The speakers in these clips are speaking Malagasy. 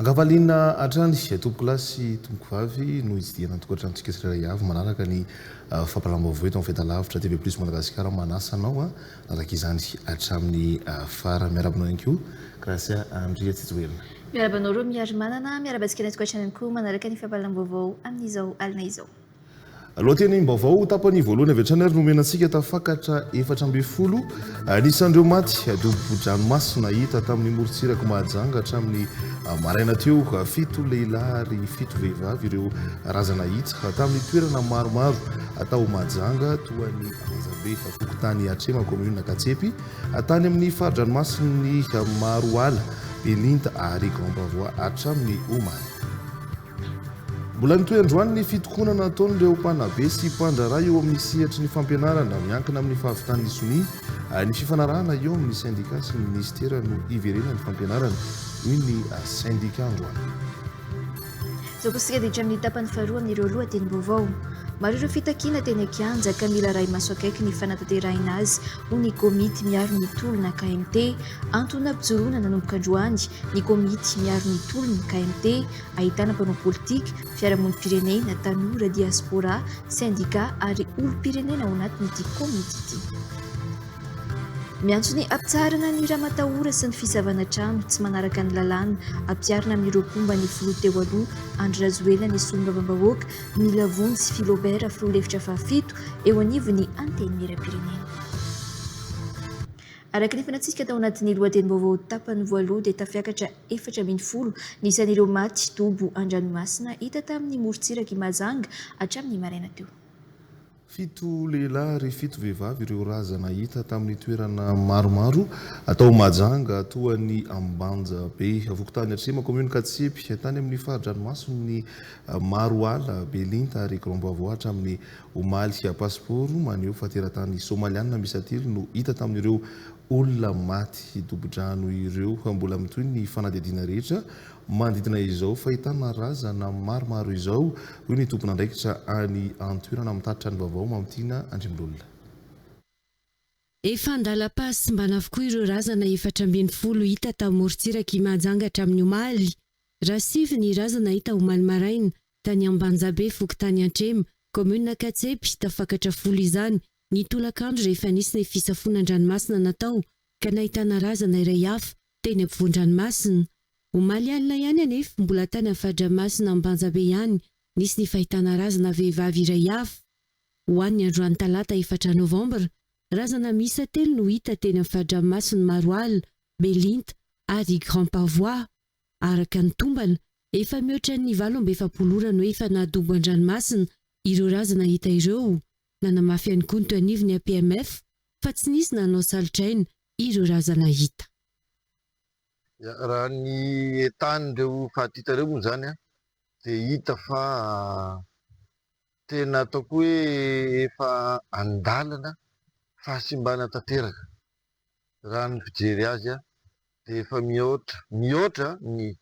Ankavaliana hatrany, tompokolahy sy tompokovavy no hitsidihana ny tokantranontsika tsirairay avy manaraka ny fampahalalam-baovao eto amin'ny Fahitalavitra TV Plus Madagasikara manasa anao hanaraka izany hatramin'ny farany. Miarahaba anao ihany koa Gracia Andriatsijoelina. Miarahaba anao Romy Harimanana, miarahaba antsika any an-tokantrano ihany koa manaraka ny fampahalalam-baovao amin'izao alina izao. Lohatenim-baovao, Tapany voalohany avy hatrany ary no omena antsika, Tafakatra efatra ambin'ny folo anisan'ireo maty dobo-dranomasina hita tamin'ny morontsirak'i Mahajanga hatramin'ny maraina teo. Fito lehilahy ary fito vehivavy ireo razana hita tamin'ny toerana maromaro tao Mahajanga toa ny Andrazabe, fokontany Atrema, kaominina Katsepy, tany amin'ny fari-dranomasin'ny Maroala, Belinta ary Grand Bavois hatramin'ny omaly. Mbola mitohy androany ny fitokonana ataon'ireo mpanabe sy mpandraharaha eo amin'ny sehatry ny fampianarana miankina amin'ny fahavitan'ny sonia ary ny fifanarahana eo amin'ny sendika sy ny minisitera no hiverenan'ny fampianarana, hoy ny sendika androany. Izao koa isika dia hatrany amin'ny tapany faharoa amin'ireo lohatenim-baovao. Maro ireo fitakiana teny an-kianja ka mila arahi-maso akaiky ny fanatanterahina azy, hoy ny komity miaro ny tolona, KMT. Antony nampijoroana nanomboka androany ny komity miaro ny tolona, KMT. ahitana mpanao politika, fiarahamonim-pirenena, tanora, diaspora, sendika ary olom-pirenena ao anatin'ity komity ity. Miantso ny hampitsaharana ny ramatahora sy ny fisavana trano tsy manaraka ny lalàna ampiharina amin'ireo mpomba ny filoha teo aloha Andry Rajoelina ny solombavambahoaka Mila Vonjy Philobert filoha lefitra fahafito eo anivon'ny Antenimierampirenena. Araka ny fanantsika tao anatin'ny lohatenim-baovao tapany voaloha dia tafiakatra efatra ambin'ny folo ny isan'ireo maty dobo an-dranomasina hita tamin'ny morontsirak'i Mahajanga hatramin'ny maraina teo. Fito lehilahy ary fito vehivavy ireo razana hita tamin'ny toerana maromaro tao Mahajanga toa an'i Ambanjabe, fokontany Atrema, kaominina Katsepy, tany amin'ny fari-dranomason'ny Maroala, Belinta ary Grand Bavois hatramin'ny Omaly pasipaoro maneho fa teratany Somaliana miisa telo no hita tamin'ireo olona maty dobo-drano ireo. Mbola mitohy ny fanadihadiana rehetra manodidina izao fahitana razana maromaro izao, hoy ny tompon'andraikitra any an-toerana mitatitra ny vaovao, Mamitiana Andriamlolona. Efa an-dalam-pahasimbana avokoa ireo razana efatra ambin'ny folo hita tao amorontsirak'i Mahajanga hatramin'ny omaly. Raha sivy ny razana hita omaly maraina, tany Ambanjabe, fokontany Antrema, kaominina Katsepy, tafakatra folo izany, ny tolakandro rehefa nisy ny fisafoana an-dranomasina natao ka nahitana razana iray hafa teny ampovoan-dranomasina. Omaly alina ihany anefa, mbola tany amin'ny faridranomasina Ambanjabe ihany, nisy ny fahitana razana vehivavy iray hafa. Ho an'ny androany talata efatra novambra, razana miisa telo no hita teny amin'ny faridranomasin'i Maroala, Belinta ary Grand Pavois. Araka ny tombana, Efa mihoatra ny valo amby efapolo ora no efa nahadobo an-dranomasina ireo razana hita ireo. Nanamafy ihany koa ny teo anivon'ny APMF fa tsy nisy nanao salotraina ireo razana hita. Raha ny état-n'ireo faty hita ireo moa izany dia hita fa tena ataoko hoe efa an-dalana fahasimbana tanteraka. Raha ny fijery azy dia efa mihoatra, mihoatra ny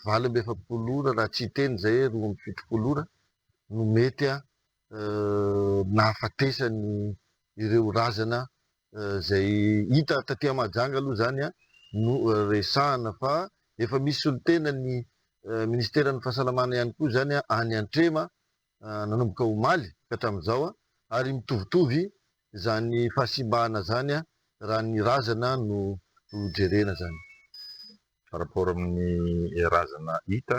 valo amby efapolo ora raha tsy hiteny izay roa amby fitopolo ora no mety nahafatesany ireo razana izay hita taty à Mahajanga aloha izany no resahana fa efa misy solontena ny ministeran'ny fahasalamana ihany koa izany any Antrema nanomboka omaly ka hatramin'izao ary mitovitovy izany fahasimbana izany raha ny razana no jerena izany. par rapport amin'ny razana hita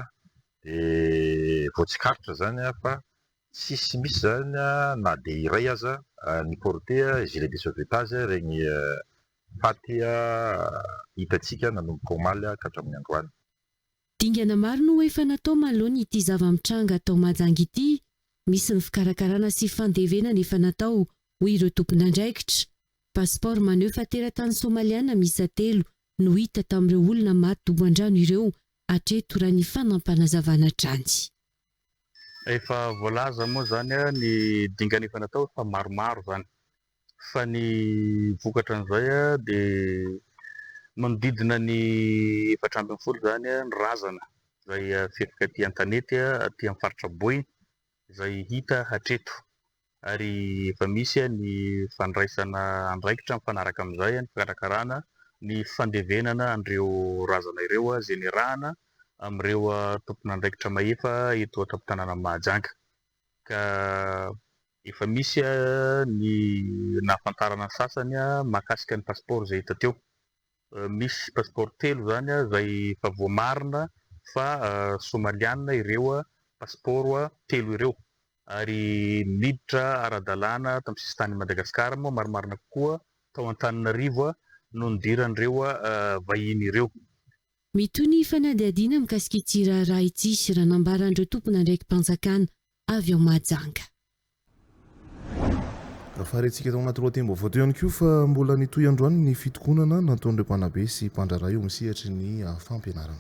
dia vao tsikaritra izany fa tsisy misy izany na dia iray aza ny porte gilet de sauvetage ireny faty hitantsika nanomboka omaly ka hatramin'ny androany. Dingana maro no efa natao manoloana ity zava-mitranga ato Mahajanga ity. Misy ny fikarakarana sy fandevenana efa natao, hoy ireo tompon'andraikitra. Passeport maneho fa teratany Somaliana miisa telo no hita tamin'ireo olona maty dobo an-drano ireo hatreto raha ny fanampanazavan hatrany. Efa voalaza moa izany ny dingana efa natao fa maromaro izany fa ny vokatra an'izay dia manodidina ny efatra ambin'ny folo izany ny razana izay fefy aty an-tanety aty amin'ny faritra Boina izay hita hatreto. ary efa misy ny fandraisana andraikitra mifanaraka amin'izay ny fikarakarana ny fandevenana an'ireo razana ireo izay niarahana amin'ireo tompon'andraikitra mahefa eto an-tampon-tanànan'i Mahajanga ka efa misy ny nahafantarana ny sasany mahakasika ny pasipaoro izay hita teo. Misy passeport telo zany izay efa voamarina fa somaliana ireo passeport telo ireo ary niditra ara-dalàna tamin'ny sisin-tanin'i Madagasikara moa marimarina kokoa tao Antananarivo no nidiran'ireo vahiny ireo. Mitohy ny fanadihadiana mikasika ity raharaha ity, raha nambaran'ireo tompon'andraiki-panjakana. avy ao Mahajanga. Farihintsika tao anaty lohatenim-baovao teo ihany koa fa mbola nitohy androany ny fitokonana nataon'ireo mpanabe sy mpandraharaha eo amin'ny sehatry ny fampianarana.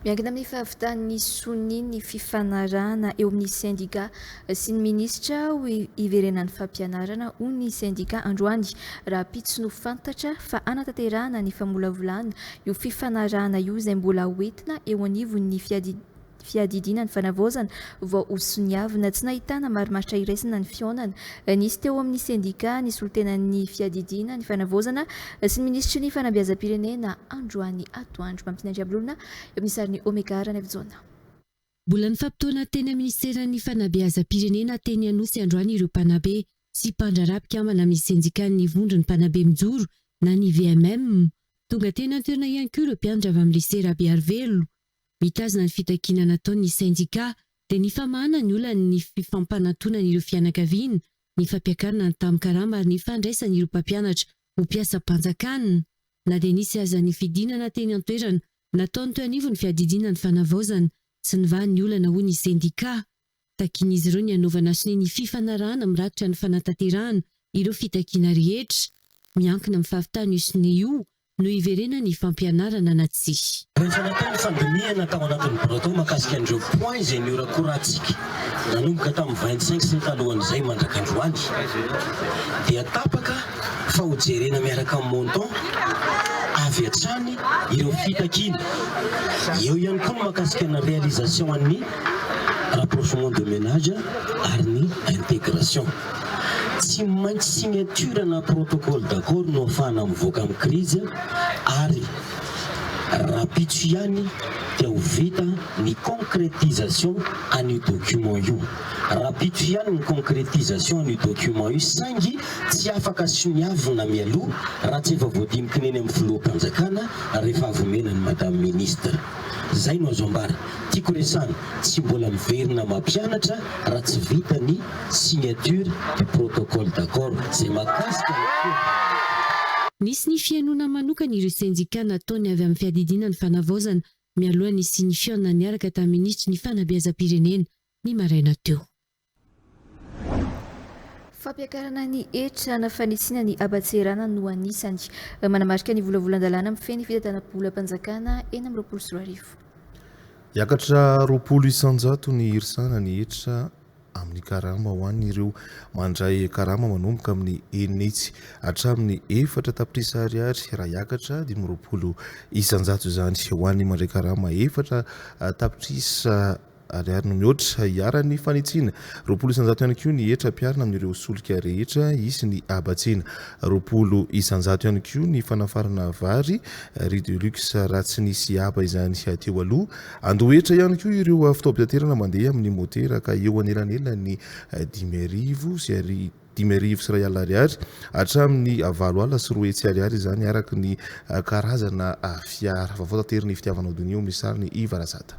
Miankina amin'ny fahavitan'ny sonia ny fifanarahana eo amin'ny sendika sy ny minisitra ho iverenan'ny fampianarana, hoy ny sendika androany, rahampitso no fantatra fa hanatanterahana ny famolavolana io fifanarahana io izay mbola hoentina eo anivon'ny fiadidiana. fiadidiana ny fanavaozana vao ho soniavina. Tsy nahitana marimaritra iraisana ny fihaonana nisy teo amin'ny sendika nisolontenan'ny fiadidiana ny fanavaozana sy ny minisitry ny fanabeazam-pirenena androany atoandro. Mampinay Andriambelolona eo amin'ny sarin'i Omega Ranaivojaona. Mbola nifampitaona teny amin'ny minisiteran'ny fanabeazam-pirenena teny Anosy androany ireo mpanabe sy mpandraharaha mpikambana amin'ny sendikan'ny vondron'ny mpanabe mijoro na ny VMM. Tonga teny an-toerana ihany koa ireo mpianatra avy amin'ny lisea Rabearivelo Mitazona ny fitakiana nataon' ny sendikà dia ny famahana ny olan' ny fifampanantonan' ireo fianakaviana, ny fampiakarana ny tamin-karama ary ny fandraisan' ireo mpampianatra ho mpiasam-panjakana. Na dia nisy aza ny fidinana teny an-toerana nataony teo anivon'ny fiadidiana ny fanavaozana sy ny vaha ny olana hoy ny sendikà, Takian'izy ireo ny hanaovana sonia ny fifanarahana mirakitra ny fanatanterahana ireo fitakiana rehetra. Miankina amin'ny fahavitana io sonia io no hiverenany ny fampianarana na tsia. Rehefa natao ny fandinihana tao anatin'ny Breton mahakasika an'ireo points izay nihorakorantsika nanomboka tamin'ny vingt cinq sy ny talohan'izay mandraka androany dia tapaka fa ho jerena miaraka amin'ny montant avy hatrany ireo fitakiana. Eo ihany koa ny mahakasika ny réalisation an'ny. rapprochement de menage ary ny intégration. Tsy maintsy signature na protocole d'accord no afahana mivoaka amin'ny crise ary rahampitso ihany dia ho vita ny concrétisation an'io document io. Rahampitso ihany ny concrétisation an'io document io saingy tsy afaka soniavina mialoha raha tsy efa voadinikin'eny amin'ny filoham-panjakana rehefa avy omena an'i Madame Ministre. Zay no azo ambara. Tiako resahana, tsy mbola miverina mampianatra raha tsy vita ny signature du protocole d'accord. Zay mahakasika ny cours. Nisy ny fihainoana manokana ireo sendika nataony avy amin'ny fiadidiana ny fanavaozana, mialoha ny signifiant niaraka taminitry ny fanabeazam-pirenena, ny maraina teo. Fampiakarana ny hetra na fanitsiana ny haban-tseherana no anisany manamarika ny volavolan-dalàna mifehy ny fitantanam-bolam-panjakana enina amby roapolo sy roa arivo. Hiakatra roapolo isan-jato ny hirsana ny hetra amin'ny karama ho an'ireo mandray karama manomboka amin'ny enitsy hatramin'ny efatra tapitrisa ariary raha hiakatra dimy amby roapolo isan-jato izany ho an'ny mandray karama efatra tapitrisa Ariary no mihoatra iharan'ny fanitsiana. Roapolo isan-jato ihany koa ny hetra ampiharina amin'ireo solika rehetra hisy ny habatsiana. Roapolo isan-jato ihany koa ny fanafarana vary, riz de luxe, raha tsy nisy haba izany teo aloha. Andoha hetra ihany koa ireo fitaovam-pitaterana mandeha amin'ny motera ka eo anelanelan'ny dimy arivo sy dimy arivo sy iray alina ariary hatramin'ny valo alina sy roa hetsy ariary izany araka ny karazana fiara. Vaovao tateriny Fitiavanao Donio, misy sariny Iva Razada.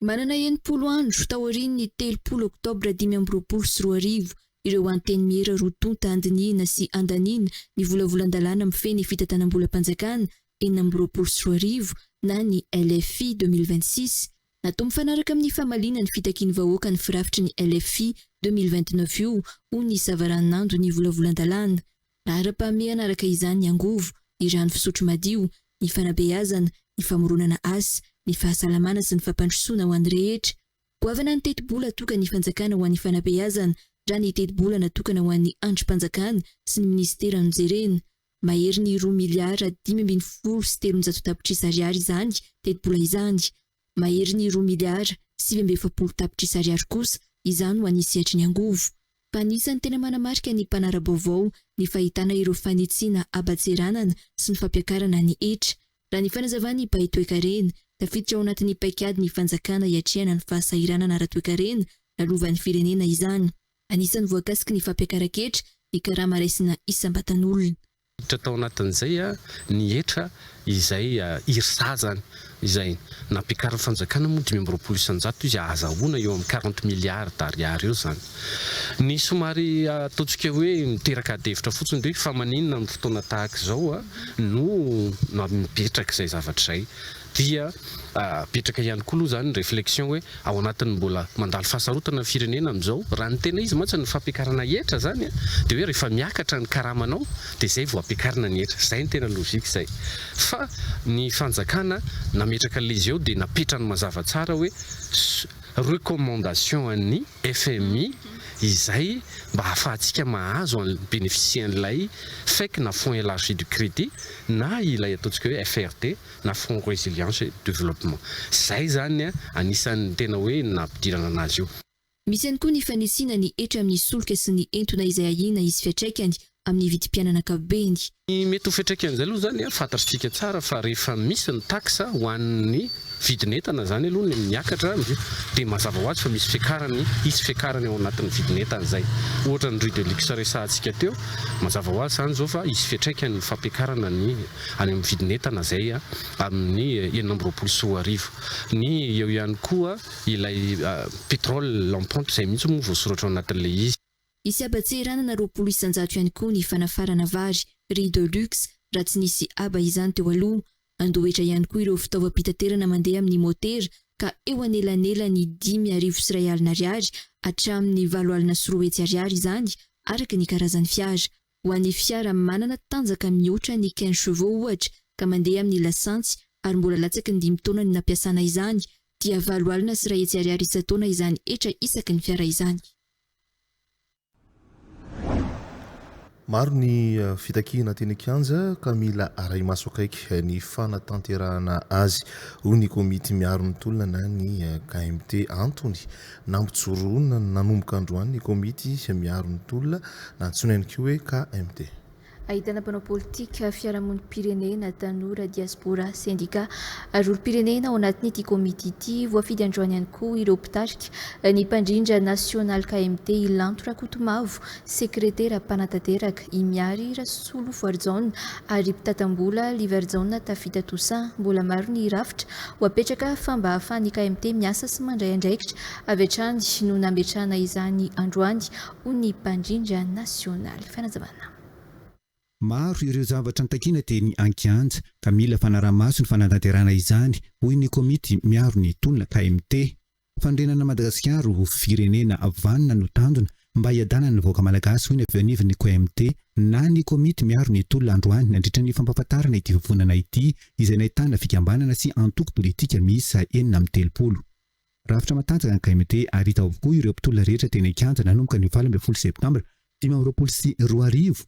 Manana enimpolo andro, taorian'ny telopolo oktobra dimy amby roapolo sy roa arivo, ireo antenimiera roa tonta andinihina sy andaniana ny volavolan-dalàna mifehy ny fitantanam-bolam-panjakana enina amby roapolo sy roa arivo na ny LFI deux mille vingt-six, natao mifanaraka amin'ny famaliana ny fitakian'ny vahoaka ny firafitry ny LFI deux mille vingt-neuf io ho nisavaranando ny volavolan-dalàna Laharam-pahamehana araka izany ny angovo, ny rano fisotro madio, ny fanabeazana, ny famoronana asa, ny fahasalamana sy ny fampandrosoana ho an'ny rehetra. Goavana ny tetibola atokan'ny fanjakana ho an'ny fanabeazana raha ny tetibola natokana ho an'ny andrim-panjakana sy ny minisitera no jerena. Maherin'ny roa miliara dimy ambin'ny folo sy telonjato tapitrisa ariary izany tetibola izany. Mahery ny roa miliara sivy amby efapolo tapitrisa ariary kosa izany ho an'ny sehatry ny angovo. Fa anisan'ny tena manamarika ny mpanara-baovao ny fahitana ireo fanitsiana haba-tseranana sy ny fampiakarana ny hetra. Raha ny fanazavan'ny mpahay toekarena, tafiditra ao anatin'ny paikadin'ny fanjakana hiatrehana ny fahasahiranana ara-toekarena lalovan'ny firenena izany. Anisan'ny voakasiky ny fampiakaran-ketra ny karama raisina isam-batan'olona. Niditra tao anatin'izay ny hetra izay IRSA izany izay nampiakarin'ny fanjakana moa dimy amby roapolo isan-jato izy ahazahoana eo amin'ny quarante milliards d'ariary eo izany. Ny somary ataontsika hoe miteraka adihevitra fotsiny dia hoe fa maninona amin'ny fotoana tahaka izao no mipetraka izay zavatra izay. dia apetraka ihany koa aloha izany ny réflexion hoe ao anatin'ny mbola mandalo fahasarotana ny firenena amin'izao, raha ny tena izy mantsy ny fampiakarana hetra izany dia hoe rehefa miakatra ny karamanao dia izay vao ampiakarina ny hetra, izay ny tena logique izay fa ny fanjakana nametraka an'ilay izy eo dia napetrany mazava tsara hoe recommandation an'ny fmi izay mba ahafahantsika mahazo an'ilay mi-bénéficier an'ilay fec na fonds élargi du crédit na ilay ataontsika hoe FRD, na Front Résilience et Développement. Izay izany anisan'ny tena hoe nampidirana anazy io. Misy ihany koa ny fanisina ny hetra amin'ny solika sy ny entona izay ahiana hisy fiatraikany amin'ny vidim-piainana ankapobeny. Ny mety ho fiatraikan'izay aloha izany fantatrtsika tsara fa rehefa misy ny tax ho an'ny vidin'entana izany aloha no miakatra dia mazava ho azy fa misy fiakarany, hisy fiakarany ao anatin'ny vidin'entana izay. Ohatra ny riz de luxe resahantsika teo, mazava ho azy izany izao fa hisy fiatraikany ny fampiakarana ny. any amin'ny vidin'entana izay amin'ny enina amby roapolo sy roa arivo. Ny eo ihany koa ilay pétrole en pompe izay mihitsy moa voasoratra ao anatin'ilay izy. Hisy haba tsy eranana roapolo isan-jato ihany koa ny fanafarana vary, riz de luxe, raha tsy nisy haba izany teo aloha. Handohetra ihany koa ireo fitaovam-pitaterana mandeha amin'ny motera ka eo anelanelan'ny dimy arivo sy iray alina ariary hatramin'ny valo alina sy roa hetsy ariary izany araka ny karazan'ny fiara. Ho an'ny fiara manana tanjaka mihoatra ny quinze chevaux ohatra ka mandeha amin'ny lasantsy ary mbola latsaky ny dimy taona no nampiasana izany dia valo alina sy iray hetsy ariary isan-taona izany hetra isaky ny fiara izany. Maro ny fitakiana teny an-kianja ka mila arahi-maso akaiky ny fanatanterahana azy, hoy ny komity miaro ny tolona na ny KMT. Antony, Nampijoroana nanomboka androany ny komity miaro ny tolona, na antsoina ihany koa hoe KMT. Ahitana mpanao politika, fiarahamonim-pirenena, tanora, diaspora, sendika ary olom-pirenena ao anatin'ity komity ity. Voafidy androany ihany koa ireo mpitarika, ny mpandrindra nasionaly KMT, i Lanto Rakotomavo, Sekretera mpanatanteraka, i Miary Rasolofoarijaona, ary mpitata-mbola, Livarijaona Tafita Toussaint. Mbola maro ny rafitra ho apetraka fa mba hahafahan'ny KMT miasa sy mandray andraikitra avy hatrany no nametrahana izany androany, hoy ny mpandrindra nasionaly. Fanazavana. Maro ireo zavatra nitakiana teny an-kianja, ka mila fanaraha-maso ny fanatanterahana izany, hoy ny komity miaro ny tolona KMT. Fandrenana Madagasikara ho firenena vanona no tanjona mba hiadanan'ny vahoaka Malagasy, hoy ny avy eo anivon'ny KMT na ny komity miaro ny tolona androany nandritra ny fampahafantarana ity vovonana ity izay nahitana fikambanana sy antoko politika miisa enina amby telopolo. Rafitra matanjaka ny KMT ary hita avokoa ireo mpitolona rehetra teny an-kianja nanomboka ny valo ambin'ny folo septambra dimy amby roapolo sy roa arivo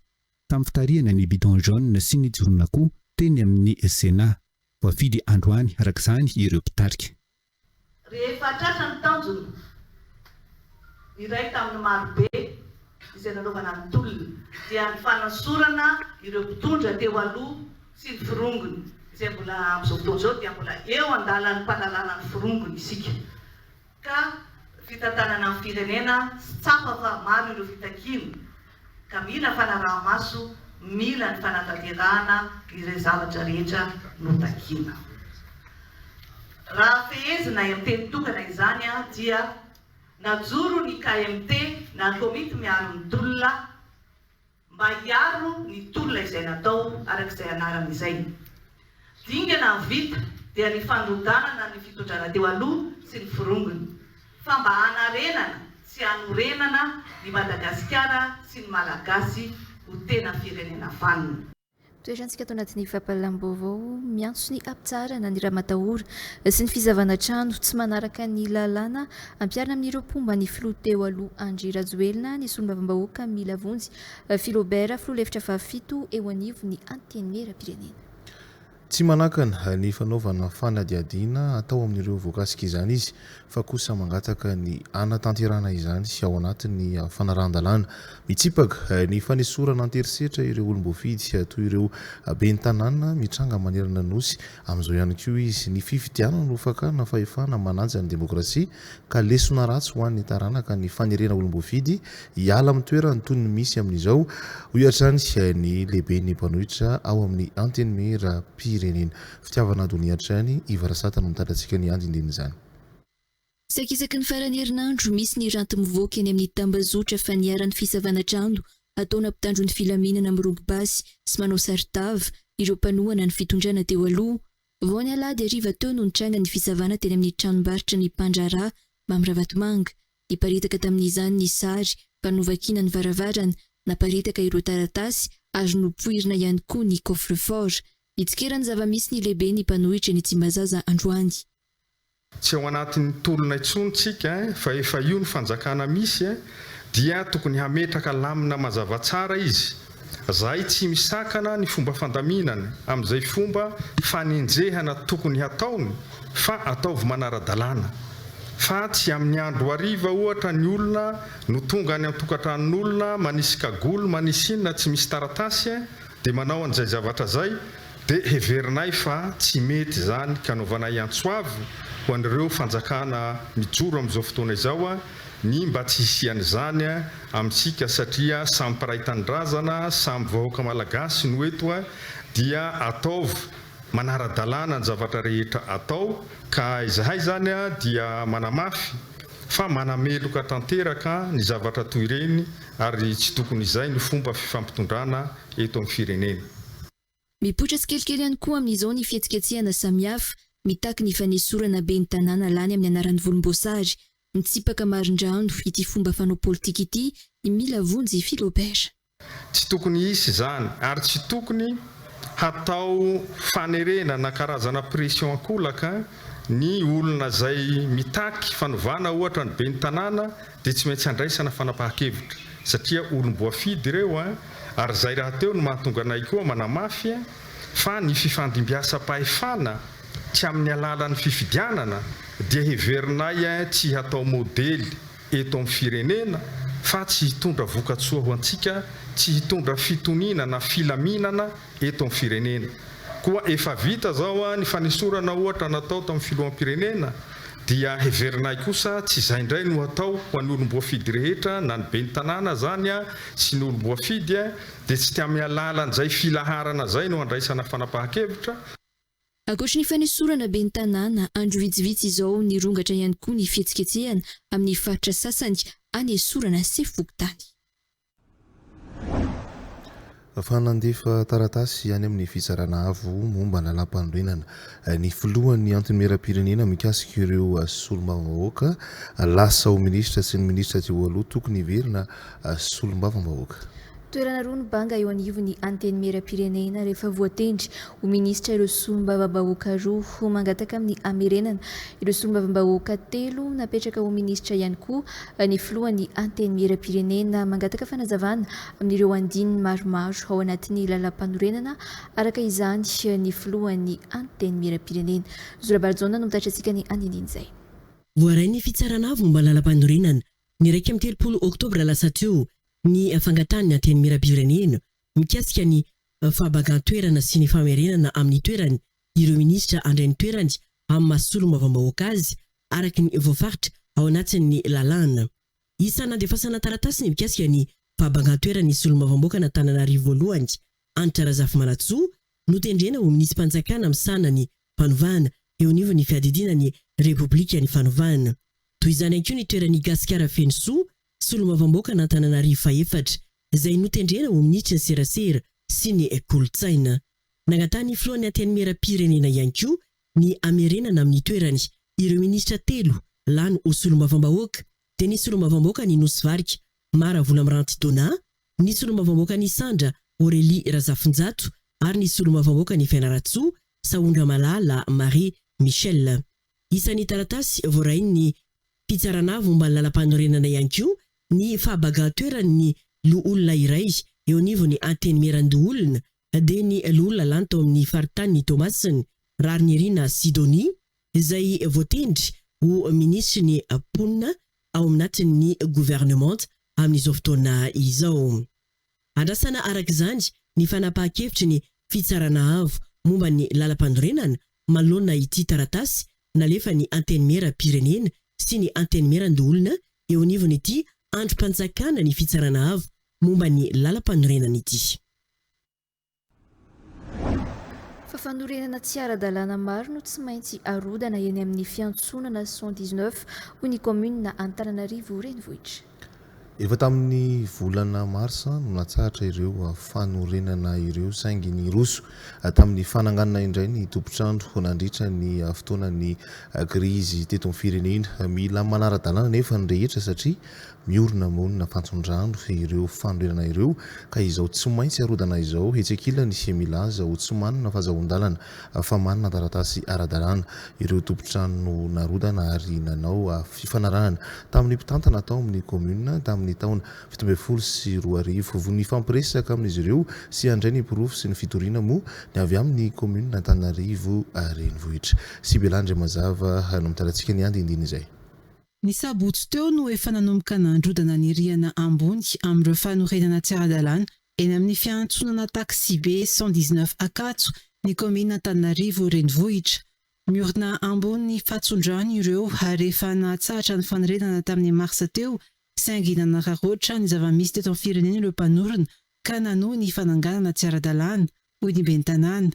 tamin'ny fitarihana ny bidon jaune sy ny jiron'akoho teny amin'ny Sénat. Voafidy androany araka izany ireo mpitarika. Rehefa tratra ny tanjona, ny iray tamin'ny marobe izay nanaovana ny tolona dia ny fanasorana ireo mpitondra teo aloha sy ny forongony izay mbola amin'izao fotoana izao dia mbola eo an-dalan'ny mpanalana ny forongony isika ka fitantanana ny firenena sy tsapa fa maro ireo fitakiana ka mila fanaraha-maso, mila ny fanatanterahana ireo zavatra rehetra notakiana. Raha fehezina amin'ny teny tokana izany dia najoro ny KMT na ny Komity miaro ny tolona mba hiaro ny tolona izay natao araka izay anarany izay. Dingana ny vita dia ny fandrodanana ny fitondrana teo aloha sy ny forongony, fa mba hanarenana sy hanorenana i Madagasikara sy ny Malagasy ho tena firenena vanona. Toerantsika ato anatin'ny fampahalalam-baovao miantso ny hampitsaharana ny ramatahora sy ny fizavana trano tsy manaraka ny lalàna ampiharina amin'ireo mpomba ny filoha teo aloha Andry Rajoelina ny solombavambahoaka Mila Vonjy Philobert filoha lefitra fahafito eo anivon'ny antenimierampirenena. Tsy manakana ny fanaovana fanadihadiana atao amin'ireo voakasika izany izy, fa kosa mangataka ny hanatanterahana izany ao anatin'ny fanarahan-dalàna. Mitsipaka ny fanesorana an-terisetra ireo olom-boafidy toy ireo ben'ny tanàna mitranga manerana ny Nosy amin'izao ihany koa izy. Ny fifidianana no fakana fahefana manaja ny demokrasia. ka lesona ratsy ho an'ny taranaka ny fanerena olom-boafidy hiala amin'ny toerany toy ny misy amin'izao, hoy hatrany ny lehiben'ny mpanohitra ao amin'ny Antenimierampirenena. Fitiavana donia hatrany i Varasata no mitatra antsika ny andindinin'izany. Saika isaky ny faran'ny herinandro, misy ny ranty mivoaka eny amin'ny tambazotra fa niharan'ny fisavana trano ataona mpitandron'ny filaminana mirongo basy sy manao saron-tava ireo mpanohana ny fitondrana teo aloha, Vao ny alahady hariva teo no nitranga ny fisavana teny amin'ny tranombarotra ny mpandraharaha Mamy Ravatomanga. Niparitaka tamin'izany ny sary ka novakiana ny varavarana, naparitaka ireo taratasy ary nopoirina ihany koa ny coffre-fort. Nitsikera ny zava-misy ny lehiben'ny mpanohitra eny Tsimbazaza androany. Tsy ao anatin'ny tolona intsony tsika fa efa io ny fanjakana misy dia tokony hametraka lamina mazava tsara izy zahay tsy misakana ny fomba fandaminana amin'izay fomba fanenjehana tokony hataony fa ataovy manara-dalàna fa tsy amin'ny andro hariva ohatra ny olona no tonga any antokatranon'olona manisy kagoly manisy inona tsy misy taratasy dia manao an'izay zavatra izay, dia heverinay fa tsy mety izany, ka anaovanay antso avo ho an'ireo fanjakana mijoro amin'izao fotoana izao ny mba tsy hisian'izany amintsika, satria samy mpiray tanindrazana, samy vahoaka malagasy no eto, dia ataovy manara-dalàna ny zavatra rehetra atao, ka izahay izany dia manamafy fa manameloka tanteraka ny zavatra toy ireny ary tsy tokony izay no fomba fifampitondrana eto amin'ny firenena. Mipoitra tsikelikely ihany koa amin'izao ny fihetsiketsehana samihafa mitaky ny fanesorana ben'ny tanàna lany amin'ny anaran'ny volomboasary. Mitsipaka marindrano ity fomba fanao politika ity i Mila Vonjy Philobert. Tsy tokony hisy izany ary tsy tokony hatao fanerena na karazana pression ankolaka ny olona izay mitaky fanovana ohatra ny ben'ny tanàna dia tsy maintsy handraisana fanapahan-kevitra satria olom-boafidy ireo an, ary izay rahateo no mahatonga anay koa manamafy fa ny fifandimbiasam-pahefana tsy amin'ny alalan'ny fifidianana dia heverinay tsy hatao modely eto amin'ny firenena fa tsy hitondra vokatsoa ho antsika, tsy hitondra fitoniana na filaminana. eto amin'ny firenena. Koa efa vita izao ny fanesorana ohatra natao tamin'ny filoham-pirenena dia heverinay kosa tsy izay indray no hatao ho an'ny olom-boafidy rehetra na ny ben'ny tanàna izany sy ny olom-boafidy dia tsy tamin'ny alalan'izay filaharana izay no handraisana fanapahan-kevitra Ankoatry ny fanesorana ben'ny tanàna, andro vitsivitsy izao nirongatra ihany koa ny fihetsiketsehana amin'ny faritra sasany hanesorana sefo fokontany. fa nandefa taratasy any amin'ny Fitsarana Avo momba ny Lalàmpanorenana ny Filohan'ny Antenimierampirenena mikasika ireo Solombavambahoaka lasa ho Minisitra sy ny Minisitra teo aloha tokony hiverina Solombavambahoaka. Toerana roa ny banga eo anivon'ny Antenimierampirenena rehefa voatendry ho minisitra ireo solombavambahoaka roa, ho mangataka amin'ny hamerenana ireo solombavambahoaka telo napetraka ho minisitra ihany koa ny filohan'ny Antenimierampirenena, mangataka fanazavana amin'ireo andininy maromaro ao anatin'ny lalàmpanorenana araka izany ny filohan'ny Antenimierampirenena. Zo Rabarijaona no mitatitra antsika ny andinindin'izay. Voaray ny fitsarana avo momba ny lalàmpanorenana, ny iraika amby telopolo oktobra lasa teo, ny fangatahan'ny Antenimierampirenena mikasika ny fahabagan-toerana sy ny famerenana amin'ny toerany ireo minisitra handray ny toerany amin'ny maha solombavambahoaka azy araka ny voafaritra ao anatin'ny lalàna. Isa nandefasana taratasy ny mikasika ny fahabangan-toeran'ny solombavambaokan'Antananarivo voalohany, Hanitra Razafimanantsoa, notendrena ho minisi-panjakana misahana ny fanovana eo anivon'ny fiadidiana ny Repoblikan'ny fanovana. Toy izany ihany koa ny toeran'I Gasikara Fenosoa, Solombavambaoaka an'Antananarivo fahefatra izay notendrena ho minisitra serasera sy ny kolontsaina. Nangatahan'ny filohan'ny Antenimieram-pirenena ihany koa ny hamerenana amin'ny toerany ireo minisitra telo lany ho solombavambahoaka dia ny solombavambaoakan'i Nosy Varika Mah Ravolamiranty Donat, ny solombavambaokan'Isandra Aurélie Razafinjato ary ny solombavambaokan'i Fianarantsoa Sahondramalala Marie Michelle. Isan'ny taratasy voarain'ny Fitsarana momba ny Lalampanorenana ihany koa ny fahabagan-toeran'ny loholona iray eo anivon'ny Antenimierandoholona, dia ny Loholona lany tao amin'ny Faritanin'i Toamasina, Raharinirina Sidonie, izay voatendry ho Minisitry ny Mponina ao anatin'ny Governemanta amin'izao fotoana izao. Andrasana araka izany ny fanapahan-kevitry ny Fitsarana Avo momba ny Lalampanorenana manoloana ity taratasy nalefan'ny Antenimieram-pirenena sy ny Antenimieran-doholona eo anivon'ity Andrim-panjakana ny Fitsarana Avo momba ny Lalampanorenana ity. fa fanorenana tsy ara-dalàna maro no tsy maintsy arodana eny amin'ny fiantsonana cent dix neuf, hoy ny kaominina Antananarivo Renivohitra. Efa tamin'ny volana marsa no natsahatra ireo fanorenana ireo saingy niroso tamin'ny fananganana indray ny tompon-trano nandritra ny fotoanan'ny krizy teto amin'ny firenena. Mila manara-dalàna anefa ny rehetra satria Miorina monina fantsondrano ireo fanorenana ireo ka izao tsy maintsy arodana izao etsy ankilany isia milaza ho tsy manana fazahoan-dalana fa manana taratasy ara-dalàna ireo tompon-trano narodana ary nanao fifanarahana tamin'ny mpitantana tao amin'ny kaominina tamin'ny taona fito ambin'ny folo sy roa arivo vao nifampiresaka amin'izy ireo sy handray ny porofo sy ny fitoriana moa ny avy amin'ny kaominina Antananarivo renivohitra sy Bela Andriamazava no mitalantsika ny andinindiny izay. Ny sabotsy teo no efa nanomboka nandrodana ny rihana ambony amin'ireo fanorenana tsy ara-dalàna eny amin'ny fiantsonana taksibe cent dix neuf Ankatso ny kaominina Antananarivo renivohitra. Miorina ambony fatson-drano ireo ary efa nahatsahatra ny fanorenana tamin'ny marsa teo saingy nanararaotra ny zava-misy teto amin'ny firenena ireo mpanorina ka nanohy ny fananganana tsy ara-dalàna, hoy ny ben'ny tanàna.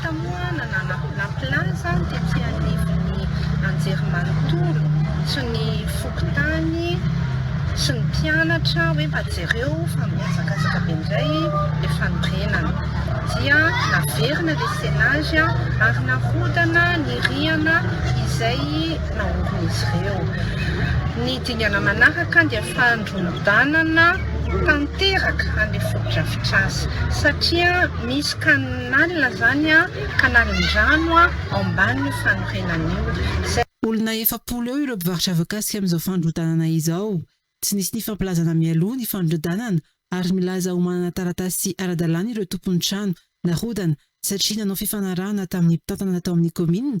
Tamoha nanana naplana izany tety anivon'ny anjerimanontolo sy ny fokontany sy ny mpianatra hoe mba jereo fa mihazakazaka be indray ilay fanorenana. Dia naverina ilay scenage ary narodana ny rihana izay naorin'izy ireo. Ny dingana manaraka dia fandrodanana tanteraka an'ilay fotodrafitrasa satria misy ka ny. Nalina zany ka naliny rano ao ambaniny fanorenan'io. Olona efapolo eo ireo mpivarotra voakasika amin'izao fandrodanana izao. Tsy nisy nifampilazana mialoha ny fandrodanana ary milaza ho manana taratasy ara-dalàna ireo tompon'ny trano narodana satria nanao fifanarahana tamin'ny mpitantana tao amin'ny kaominina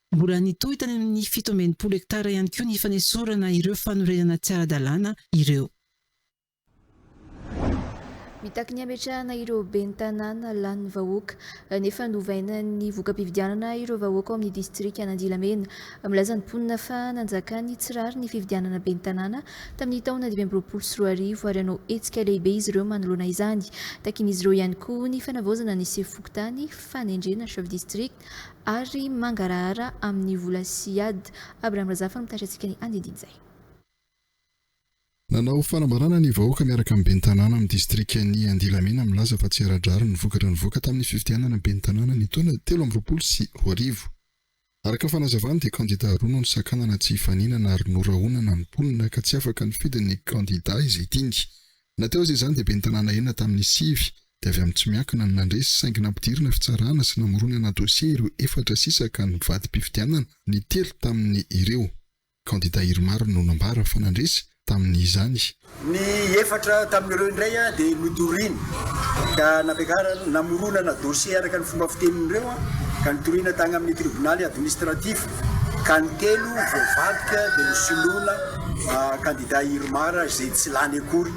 Mbola nitohy tany amin'ny fito amby enimpolo hektara ihany koa ny fanesorana ireo fanorenana tsy ara-dalàna ireo. Mitaky ny hametrahana ireo ben'ny tanàna lanin'ny vahoaka, nefa novaina ny voka-pifidianana ireo vahoaka ao amin'ny distrikan'Andilamena. Milaza ny mponina fa nanjakan'ny tsy rariny ny fifidianana ben'ny tanàna tamin'ny taona dimy amby roapolo sy roa arivo ary hanao hetsika lehibe izy ireo manoloana izany. Takin'izy ireo ihany koa ny fanavaozana ny sefo fokontany fanendrena, chef district. ary mangarahara amin'ny vola sy ady. Abraham Razafy no mitatra antsika ny andindin'izay. Nanao fanambarana ny vahoaka miaraka amin'ny ben'ny tanàna amin'ny distrikan'i Andilamena milaza fa tsy ara-drariny ny vokatra nivoaka tamin'ny fifidianana ben'ny tanàna ny taona telo amby roapolo sy roa arivo. Araka ny fanazavany dia kandida roa no nisakanana tsy hifaninana ary norahonana ny mponina ka tsy afaka nifidy ny kandida izay tiany. Na teo aza izany dia ben'ny tanàna enina tamin'ny sivy dia avy amin'ny tsy miankina no nandresy saingy nampidirina fitsarana sy namoronana dosie ireo efatra sisa ka nivadi-pifidianana ny telo tamin'ny ireo kandida Irmar no nambara fa nandresy tamin'izany. Ny efatra tamin'ireo indray dia notorina ka nampiakarana namoronana dosie araka ny fomba fitenin'ireo ka nitoriana tagny amin'ny tribonaly administratif ka ny telo voavadika dia nosoloina Kandida Irmar izay tsy lany akory.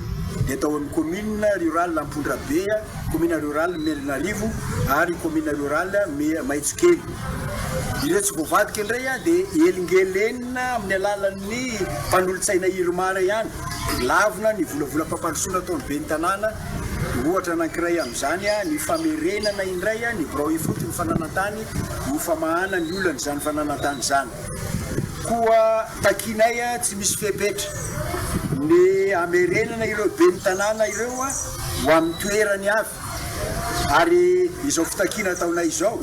Dia tao amin'ny Commune Rurale Ampondrabe, Commune Rurale Melinarivo ary Commune Rurale Maitsokely. Ireo tsy voavadika indray dia elingelenina amin'ny alalan'ny mpanolotsaina Irmar ihany. Lavina ny volavolam-pampandrosoana ataon'ny Ben'ny Tanàna. Ohatra anankiray amin'izany ny famerenana indray ny birao ifotony fananan-tany ho famahana ny olan'izany fananan-tany izany. Koa takianay tsy misy fepetra ny hamerenana ireo ben'ny tanàna ireo ho amin'ny toerany avy ary izao fitakiana ataonay izao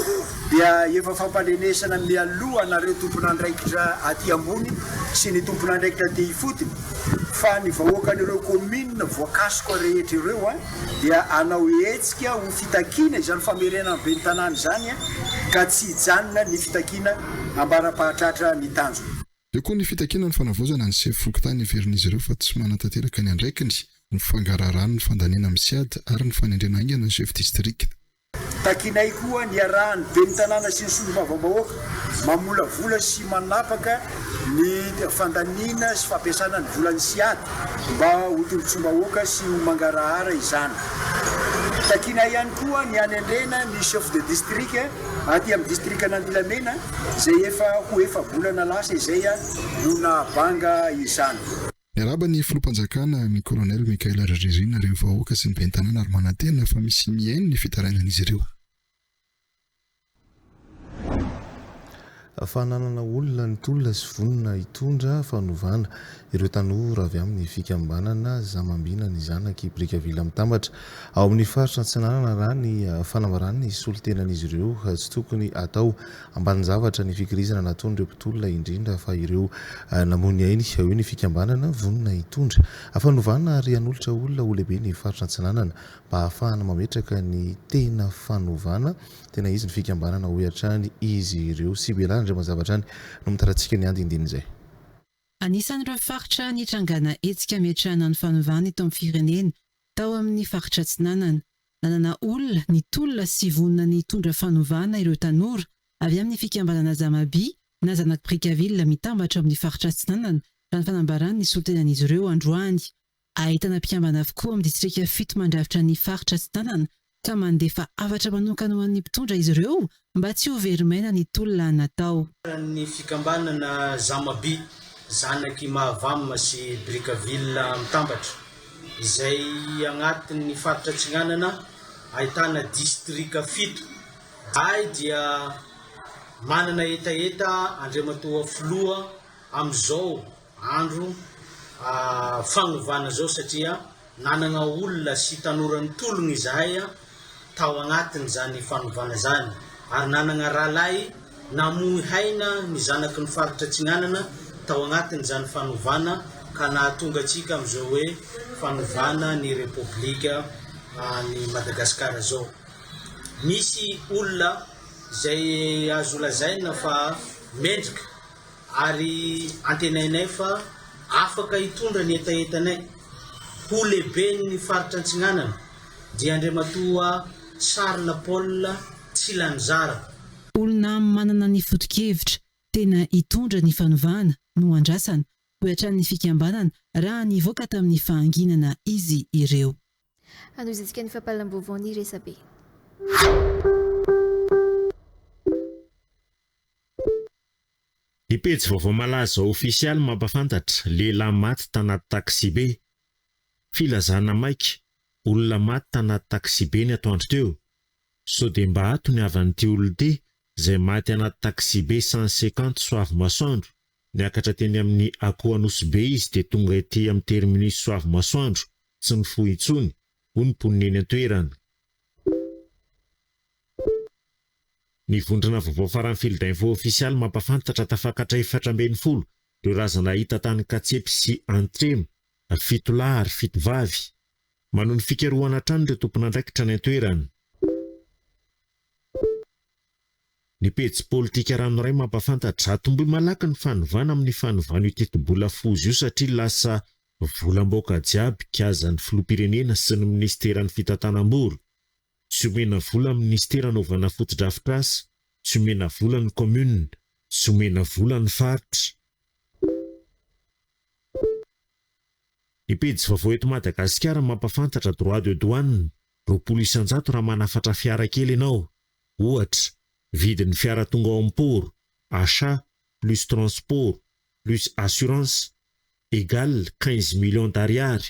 dia efa fampandrenesana mialoha anareo tompon'andraikitra aty ambony sy ny tompon'andraikitra aty ifotony fa ny vahoakan'ireo kaominina voakasoka rehetra ireo dia hanao hetsika ho fitakiana izany famerenana ny ben'ny tanàna izany ka tsy hijanona ny fitakiana ambara-pahatratra ny tanjona. Eo koa ny fitakiana ny fanavaozana ny sefo fokontany heverin'izy ireo fa tsy manatanteraka ny andraikiny, ny fangaraharahan'ny fandaniana amin'ny siad ary ny fanendrena haingana ny chef district. Takianay koa ny hiarahan'ny Ben'ny Tanàna sy ny Solombavambahoaka mamolavola sy manapaka ny fandaniana sy fampiasana ny volan'ny CIAD mba ho tombontsoam-bahoaka sy ho mangarahara izany. Takianay ihany koa ny hanendrena ny Chef de District aty amin'ny Distrikan'Andilamena izay efa ho efa-bolana lasa izay no nahabanga izany. Miarahaba ny Filoham-panjakana, ny Kolonely Michael Hariririana, ireo vahoaka sy ny Ben'ny tanàna ary manantena fa misy mihaino ny fitarainan'izy ireo. Fananana olona ny tolona sy vonona hitondra fanovana ireo tanora avy amin'ny fikambanana Zamambina ny zanaky Brickaville Mitambatra ao amin'ny faritra Antsinanana raha ny fanambaràn'ny solontenan'izy ireo tsy tokony atao Ambanin-javatra ny fikirizana nataon'ireo mpitolona indrindra fa ireo namoy ny ainy hoy ny fikambanana vonona hitondra. Hafanovana ary hanolotra olona ho lehibe ny faritra Antsinanana mba hahafahana mametraka ny tena fanovana tena izy ny fikambanana hoy hatrany izy ireo. Sibera Andriamanjavatrany no mitaratsika ny andindinin'izay. Anisan'ireo faritra nitrangana hetsika hametrahana ny fanovana eto amin'ny firenena Tao amin'ny faritra Atsinanana, nanana olona ny tolona sy vonona ny hitondra fanovana ireo tanora avy amin'ny fikambanana Zamabi na Zanak'i Brickaville mitambatra amin'ny faritra Atsinanana, raha ny fanambaran'ny solontenan'izy ireo androany. Ahitana mpikambana avokoa amin'ny distrika fito mandrafitra ny faritra Atsinanana ka mandefa hafatra manokana ho an'ny mpitondra izy ireo mba tsy ho very maina ny tolona natao. Ny fikambanana Zamaby, zanak'i Mahavam sy Brickaville Mitambatra, izay agnatin'ny faritra Atsinanana ahitana distrika fito ay dia manana hetaheta Andriamatoa Filoha amin'izao andro fanovana izao satria nanana olona sy tanora nitolona izahay tao anatin'izany fanovana izany ary nanana rahalahy namoy haina ny zanaky ny faritra Atsinanana tao anatin'izany fanovana ka nahatonga antsika amin'izao hoe fanovana ny Repoblika an'i Madagasikara izao. Misy olona izay azo lazaina fa mendrika. ary antenainay fa afaka hitondra ny hetahetanay ho lehiben'ny faritra Antsinanana dia Andriamatoa Charles Paul Tsilanizara. Olona manana ny foto-kevitra tena hitondra ny fanovana no andrasana, hoy hatrany ny fikambanana raha nivoaka tamin'ny fahanginana izy ireo. Hanohizatsika ny fampahalam-baovao ny resabe. Ny pejy vaovao Malaza Ofisialy mampahafantatra, Lehilahy maty tanaty taksibe. Filazana maika, olona maty tanaty taksibe ny atoandro teo. Sao dia mba ato ny havan'ity olona ity izay maty anaty taksibe cent cinquante Soavimasoandro, niakatra teny amin'ny Akohanosibe izy dia tonga ety amin'ny terminus Soavimasoandro, tsy mifoha intsony, hoy ny mponina eny an-toerana. Ny vondrona vaovao faran'ny Fil d'Info Ofisialy mampafantatra tafakatra efatra ambin'ny folo ireo razana hita tany Katsepy sy Antremo, fito lahy ary fito vavy. Manohy ny fikarohana hatrany ireo tompon'andraikitra any an-toerana. Ny pejy Politika Ranoray mampafantatra, Atombohy malaky ny fanovana amin'ny fanovan'io tetibola foza io satria lasa volam-baoka jiaby, Kaja ny Filoham-pirenena sy ny Minisiteran'ny Fitantanam-bola. tsy omena vola amin'ny minisitera anaovana fotodrafitrasa, tsy omena vola ny kaominina, tsy omena vola ny faritra. Ny pejy vaovao eto Madagasikara mampafantatra droit de douane roapolo isan-jato raha manafatra fiara kely ianao. Ohatra, vidin'ny fiara tonga ao amin'ny port, achat, plus transport, plus assurance, égale quinze millions d'ariary.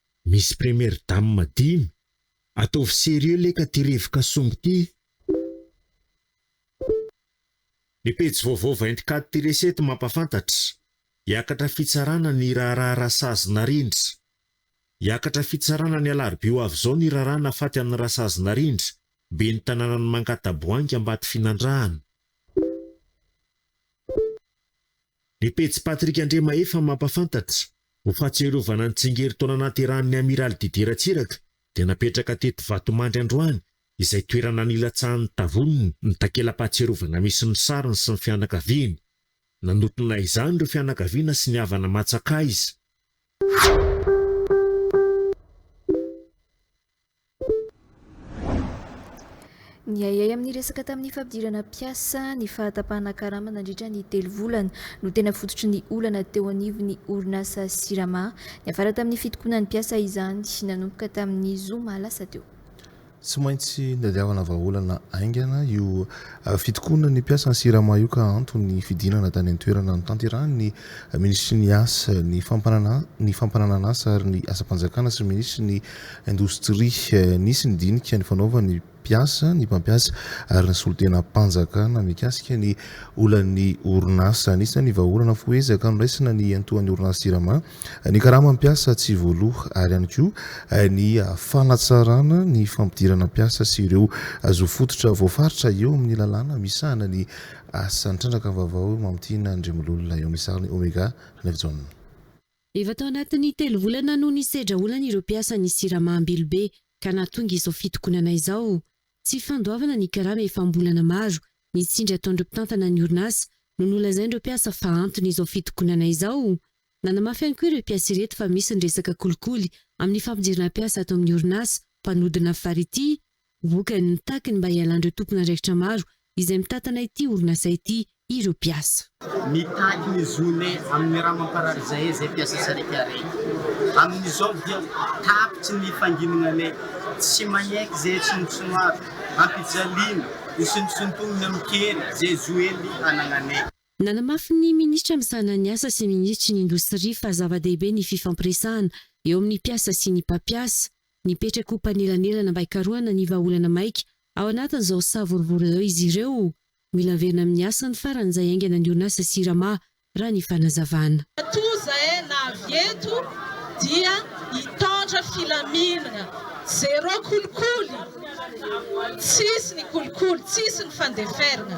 Misy première dame dimy? Ataovy sérieux leka ty rivoka sombo ty. Ny pejy vaovao vingt quatre ty resy eto mampafantatra, hiakatra fitsarana ny raharaha Rasazy Narindra. Hiakatra fitsarana ny alarobia ho avy izao ny raharaha nafaty an'i Rasazy Narindra, ben'ny tanànan'i Mankataboahangy Ambatofinandrahana. Ny pejy Patrick Andriamahefa mampafantatra, ho fahatsiarovana ny tsingerin-taona nahaterahan'ny Amiraly Didier Ratsiraka dia napetraka teto Vatomandry androany izay toerana nilatsahan'ny Tavoniny ny takela-pahatsiarovana misy ny sariny sy ny fianakaviany. Nanotrona izany ireo fianakaviana sy ny havana matsakaiza. Niahiahy amin'ny resaka tamin'ny fampidirana mpiasa ny fahatapahana karama nandritra ny telo volana no tena fototry ny olana teo anivon'ny orinasa Sirama. Niafara tamin'ny fitokonan'ny mpiasa izany nanomboka tamin'ny zoma lasa teo. Tsy maintsy nitadiavana vahaolana haingana io fitokonana ny mpiasan'ny Sirama io ka antony ny fidinana tany an-toerana notanterahin'ny minisitry ny asa, ny fampananan'asa ary ny asam-panjakana sy ny minisitry ny indostria. Nisy ny dinika nifanaovan'ny mpiasa, ny mpampiasa ary ny solontenam-panjakana mikasika ny olan'ny orinasa. Anisan'ny vahaolana fo ezaka noraisina ny hiantohan'ny orinasa Jirama ny karamany mpiasa tsy voaloha ary ihany koa ny fanatsarana ny fampidirana mpiasa sy ireo zo fototra voafaritra eo amin'ny lalàna misahana ny asa. Ny trandraka vaovao eo Mamitiana Andriamololona eo amin'ny sariny Omega Ranaivojaona. Efa tao anatin'ny telo volana no nisedra olana ireo mpiasan'ny Sirama Ambilobe ka nahatonga izao fitokonana izao. Tsy fandoavana ny karama efa am-bolana maro nitsindry ataon'ireo mpitantana ny orinasa no nolazain'ireo mpiasa fa antony izao fitokonana izao. Nanamafy ihany koa ireo mpiasa ireto fa misy ny resaka kolikoly amin'ny fampidirana mpiasa ato amin'ny orinasa mpanodina fary ity. Vokany, mitaky ny mba hialan'ireo tompon'andraikitra maro izay mitantana ity orinasa ity ireo mpiasa. Mitaky ny zone amin'ny rà mamparary izay izay mpiasa sariaka reny. Amin'izao dia tapitry ny fanginana le tsy manaiky izay atsinontsinoavy, ampijaliana, hosintonsintonina amin-kery izay zo ely anagnanay. Nanamafy ny minisitra misahana ny asa sy ny minisitry ny indostria fa zava-dehibe ny fifampiresahana eo amin'ny mpiasa sy ny mpampiasa. Mipetraka ho mpanelanelana mba hikarohana ny vahaolana maika ao anatin'izao savorovoro izao izy ireo. Mila averina amin'ny asany faran'izay haingana ny orinasa Sirama, raha ny fanazavana. Toa izay na avy eto dia hitondra filaminana, zéro kolikoly, tsisy ny kolikoly, tsisy ny fandeferana.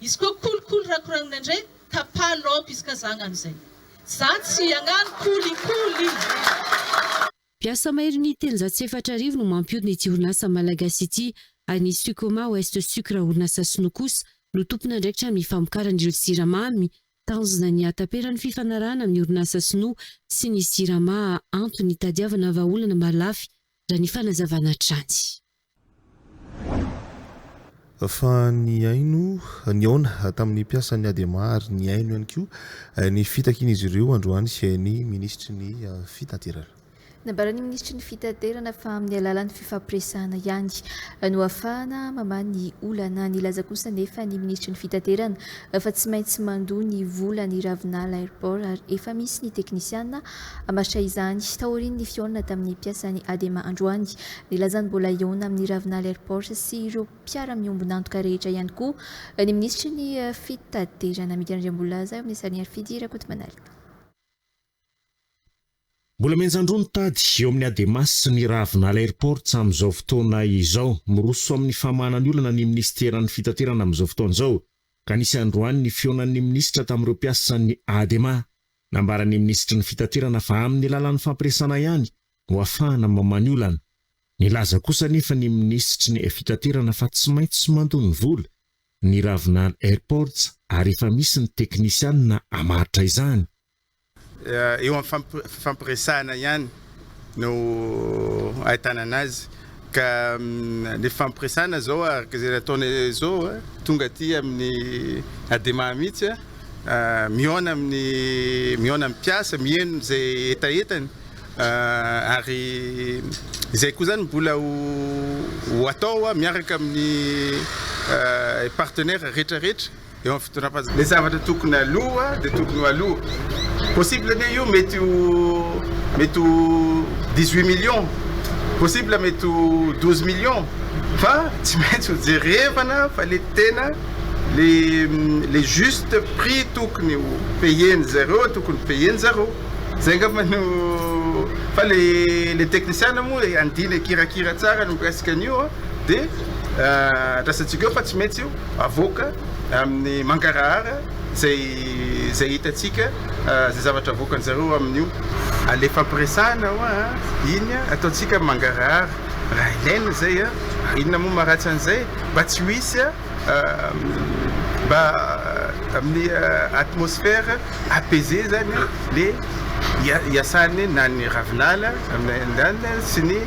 Izy koa kolikoly rakoragnina ndray tapaha laoka izy ka za agnano zay. Za tsy agnano kolikoly. Mpiasa mahery ny telonjato sy efatra arivo no mampiodina ity orinasa malagasy ity, ary ny Sucoma Ouest Sucre orinasa sinoa kosa no tompon'andraikitra amin'ny famokarana ireo siramamy, tanjona ny hahataperan'ny fifanarahana amin'ny orinasa sinoa sy ny Sirama antony hitadiavana vahaolana mahalafy, raha ny fanazavana hatrany. Fa nihaino, nihaona tamin'ny mpiasan'ny Adema ary nihaino ihany koa ny fitakian'izy ireo androany ny minisitry ny Fitaterana. Nambaran'ny minisitry ny Fitaterana fa amin'ny alalan'ny fifampiresahana ihany no ahafahana mamaha ny olana. Nilaza kosa anefa ny minisitry ny Fitaterana fa tsy maintsy mandoa ny vola ny Ravinala Airport ary efa misy ny teknisiana Hammaritra izany, taorian'ny fihaonana tamin'ny mpiasan'ny Adema androany, nilazany mbola hihaona amin'ny Ravinala Airport sy ireo mpiara-miombon'antoka rehetra ihany koa ny minisitry ny Fitaterana. Amidy an'Andriamboholaza eo amin'ny sarin'i Harifidy Rakotomanalina. Mbola mianjan-droa ny tady eo amin'ny Adema sy ny Ravinala Airports amin'izao fotoana izao. Miroso amin'ny famahana ny olana ny minisiteran'ny Fitaterana amin'izao fotoana izao, ka nisy androany ny fihaonan'ny minisitra tamin'ireo mpiasan'ny Adema. Nambaran'ny minisitry ny Fitaterana fa amin'ny alalan'ny fampiresana ihany no hahafahana mamaha ny olana. Nilaza kosa anefa ny minisitry ny Fitaterana fa tsy maintsy mandoa ny vola ny Ravinala Airports ary efa misy ny teknisianina hamaritra izany. Eo amin'ny fampiresahana ihany no ahitana anazy ka ny fampiresana izao araka izay nataony izao tonga aty amin'ny adema mihitsy mihaona amin'ny mihaona amin'ny mpiasa miheno izay hetahetany ary izay koa izany mbola ho ho atao miaraka amin'ny partenaire rehetra rehetra eo amin'ny fitondram-panjakana. Ny zavatra tokony aloha dia tokony ho aloha. Possible anie io mety ho mety ho dix huit millions, possible mety ho douze millions fa tsy maintsy ho jerevana fa le tena le le juste prix tokony ho payer-ny zareo tokony ho payer-ny zareo. Zay angamba no fa le le teknisiana moa andiany akirakira tsara ny mikasika an'io dia andrasantsika eo fa tsy maintsy io. avoaka amin'ny mangarahara izay izay hitantsika izay zavatra avoakan-dry zareo amin'io. Alefa am-piresahana hoa an! Iny an, ataontsika mangarahara raha ilaina izay an! Ary inona moa maharatsy an'izay mba tsy ho hisy an! Mba amin'ny atmosphère apaisée izany an, le hiasany na ny ravinala sy ny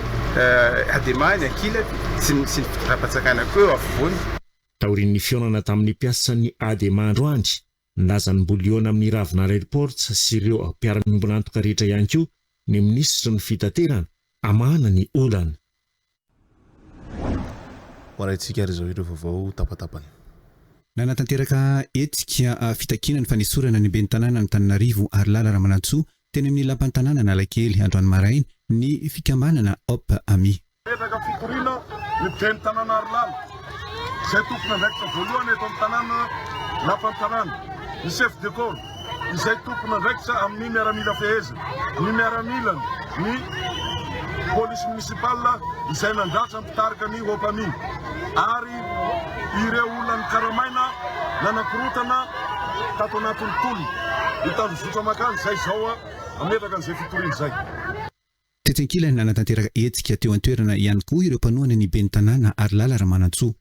adema ny ankilany. sy ny fitondram-panjakana koa eo afovoany. Taorian'ny fihaonana tamin'ny mpiasan'ny Adema androany, nilaza ny mbola hihaona amin'ny Ravinala Airport sy ireo mpiara-miombon'antoka rehetra ihany koa ny minisitry ny Fitaterana, hamahana ny olana. Hoarahintsika ary izao ireo vaovao tapatapany. Nanatanteraka hetsika fitakiana ny fanesorana ny ben'ny tanàna Antananarivo Harilala Ramanantsoa teny amin'ny lapan'ny tanàna Analakely androany maraina ny fikambanana Hope Amis. Mipetraka fitoriana ny ben'ny tanàna Harilala, izay tompon'andraikitra voalohany eto amin'ny tanàna Lapan'ny tanàna, ny chef de corps, izay tompon'andraikitra amin'ny miaramila fehezina, ny miaramilany, ny polisy municipal izay nandratra ny mpitarika ny Opami, ary ireo olona nikaramaina nanakorotana tato anatin'ny tolona, ny tanjozotra makany izay izao mametraka an'izay fitoriana izay. Tetsy ankilany, nanatanteraka hetsika teo an-toerana ihany koa ireo mpanohana ny ben'ny Tanàna, Harilala Ramanantsoa.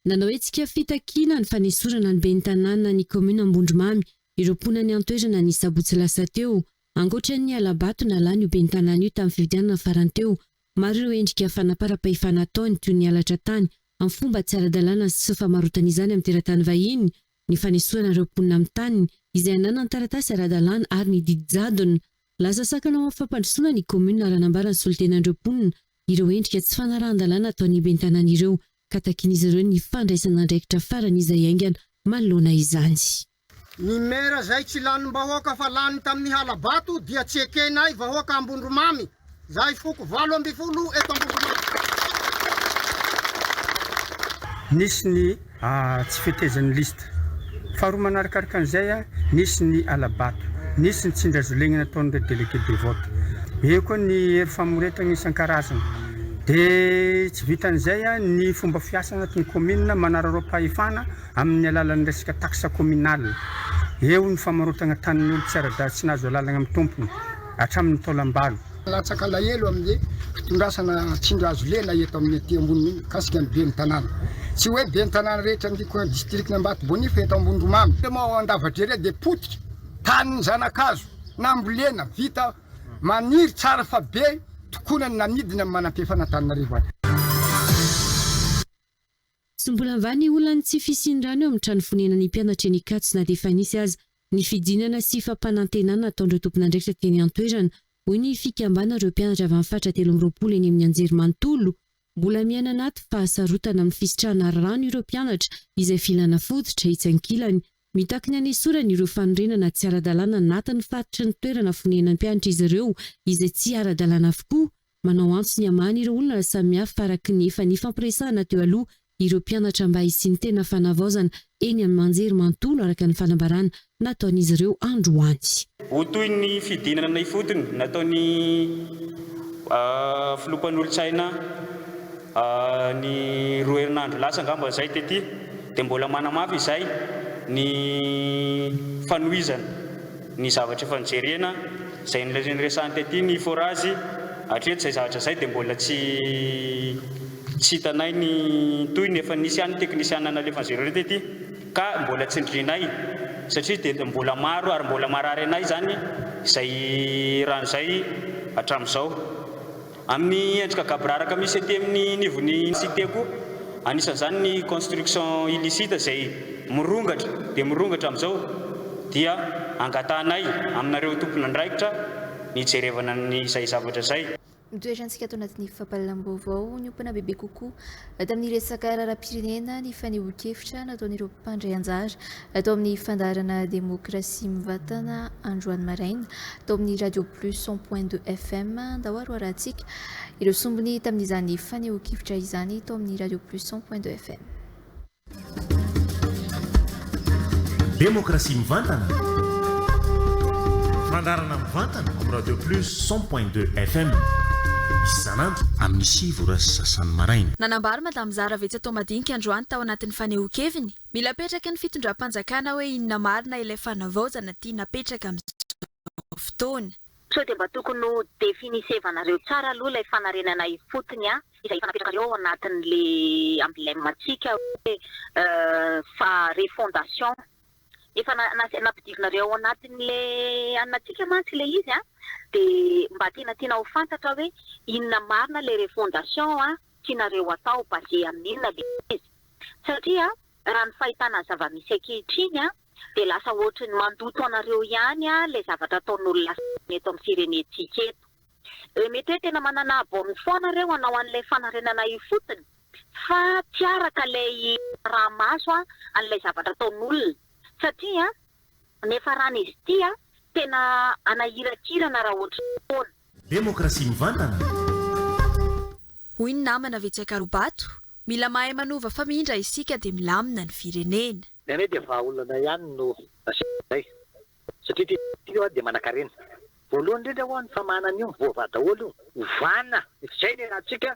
Nanao hetsika fitakiana ny fanesorana ny ben'ny tanàna ny kaominina Ambondromamy ireo mponany an-toerana ny sabotsy lasa teo. Ankoatra ny hala-bato nalany io ben'ny tanàna io tamin'ny fifidianana farany teo, maro ireo endrika fanaparam-pahefana ataony toy ny halatra tany amin'ny fomba tsy ara-dalàna sy famarotana izany amin'ny teratany vahiny, ny fanesorana ireo mponina amin'ny taniny izay ananany taratasy ara-dalàna ary ny didy jadona. Lasa sakana ho amin'ny fampandrosoana ny kaominina raha nambaran'ny solontenan'ireo mponina ireo endrika tsy fanarahan-dalàna ataon'ny ben'ny tanàna ireo ka takian'izy ireo ny fandraisan'andraikitra farany izay haingana manoloana izany. Ny Maire zay tsy lanim-bahoaka fa lany tamin'ny hala-bato dia tsy ekenay vahoaka Ambondromamy, zahay foko valo ambin'ny folo eto Ambondromamy. Nisy ny tsy fetezan'ny list Faharoa manarakaraka an'izay, nisy ny hala-bato, nisy ny tsindrazolena nataon'ireo délégués de vote. Eo koa ny hery famoretana isan-karazany. Dia tsy vitan'izay, ny fomba fiasa anatin'ny kaominina manararaoam-pahefana amin'ny alalan'ny resaka taxe communale. Eo ny famarotana tanin'olon-tsy ara-dalana tsy nahazo alalana amin'ny tompony, hatramin'ny taolam-balo. Latsaka alahelo amin'ny fitondrasana tsindry hazo lena eto amin'ny aty ambony mikasika ny ben'ny tanàna. Tsy hoe ben'ny tanàna rehetra ny distrikan' Ambato-Bonia fa eto Ambondromamy. Temo ao Andavadrere dia potika tanin'ny zanakazo nambolena vita maniry tsara fa be tokoana ny namidiny amin'ny manam-piefan'Antananarivo any. Tsy mbola và ny olan'ny tsy fisian'ny rano eo amin'ny trano fonenan'ny mpianatra eny Ikatsy na dia efa nisy aza ny fidinana sy fampanantenana ataon'ireo tompon'andraikitra teny an-toerana, hoy ny fikambanan'ireo mpianatra avy amin'ny faritra telo amby roapolo eny amin'ny anjerimanontolo. Mbola miaina anaty fahasarotana amin'ny fisitrahana rano ireo mpianatra izay filana fototra, etsy ankilany. Mitaky ny hanesorana ireo fanorenana tsy ara-dalàna anatin'ny faritry ny toerana fonenan'ny mpianatra izy ireo izay tsy ara-dalàna avokoa, Manao antso ny hamahany ireo olona samihafa araka ny efa nifampiresahana teo aloha ireo mpianatra mba hisian'ny tena fanavaozana eny amin'ny manjery manontolo araka ny fanambarana nataon'izy ireo androany. Ho toy ny fidinana ifotony nataon'ny filoha mpanolotsaina ny roa herinandro lasa angamba izay tety dia mbola manamafy izay ny fanohizana. ny zavatra efa nojerena, izay noresahiny tety ny forage, hatreto izay zavatra izay dia mbola tsy tsy hitanay ny tohiny, efa nisy ihany ny teknisiana nalefan'izy ireo tety ka mbola tsindrinay satria dia mbola maro ary mbola marary anay izany izay rano izay hatramin'izao. Amin'ny endrika gaboraraka misy ety amin'ny nivon'ny cité koa, anisan'izany ny construction illicite izay mirongatra dia mirongatra amin'izao, dia angatahanay aminareo tompon'andraikitra ny hijerevana izay zavatra izay. Mitoetra antsika ato anatin'ny fampahalalam-baovao niompana bebe kokoa tamin'ny resaka raharaham-pirenena ny fanehoan-kevitra nataon'ireo mpandray anjara Tao amin'ny fandaharana Demokrasia Mivatana androany maraina, tao amin'ny Radio Plus cent point deux FM, andao haroarantsika ireo sombiny tamin'izany fanehoan-kevitra izany tao amin'ny Radio Plus cent point deux FM. Demokrasia Mivantana, fandaharana mivantana amin'ny Radio Plus cent point deux FM, isan'andro amin'ny sivy ora sy sasany maraina. Nanambara Madame Zara Vetsatao Madinika androany tao anatin'ny fanehoan-keviny, Mila apetraky ny fitondram-panjakana hoe inona marina ilay fanavaozana tiana apetraka amin'izao fotoana. Sao dia mba tokony ho definisevanareo tsara aloha ilay fanarenana ifotony an, izay efa napetrakareo ao anatin'le emblème ntsika hoe fa refondation. Efa nampidirinareo ao anatin'le anona ntsika mantsy ilay izy an, dia mba tena tiana ho fantatra hoe inona marina ilay refondation an. tianareo atao basé amin'ny inona ilay izy? Satria raha ny fahitana ny zava-misy ankehitriny dia lasa ohatry ny mandoto anareo ihany ilay zavatra ataon'olona sasany eto amin'ny firenentsika eto. Dia mety hoe tena manana abom foana ireo hanao an'ilay fanarenana io fotsiny fa tsy araka ilay raha maso an'ilay zavatra ataon'olona satria Niafarana izy ity a! Tena anahirakirana raha ohatry ny foana. Demokrasia mivantana. Hoy ny namana ve tsy akaro-bato, mila mahay manova fa mindra isika dia milamina ny firenena. Ny anay dia vahaolana ihany no asianay satria ity ity dia manakarena. Voalohany indrindra ho'a ny famahana an'io mivoavaha daholo io. Ovana izay ny iarahantsika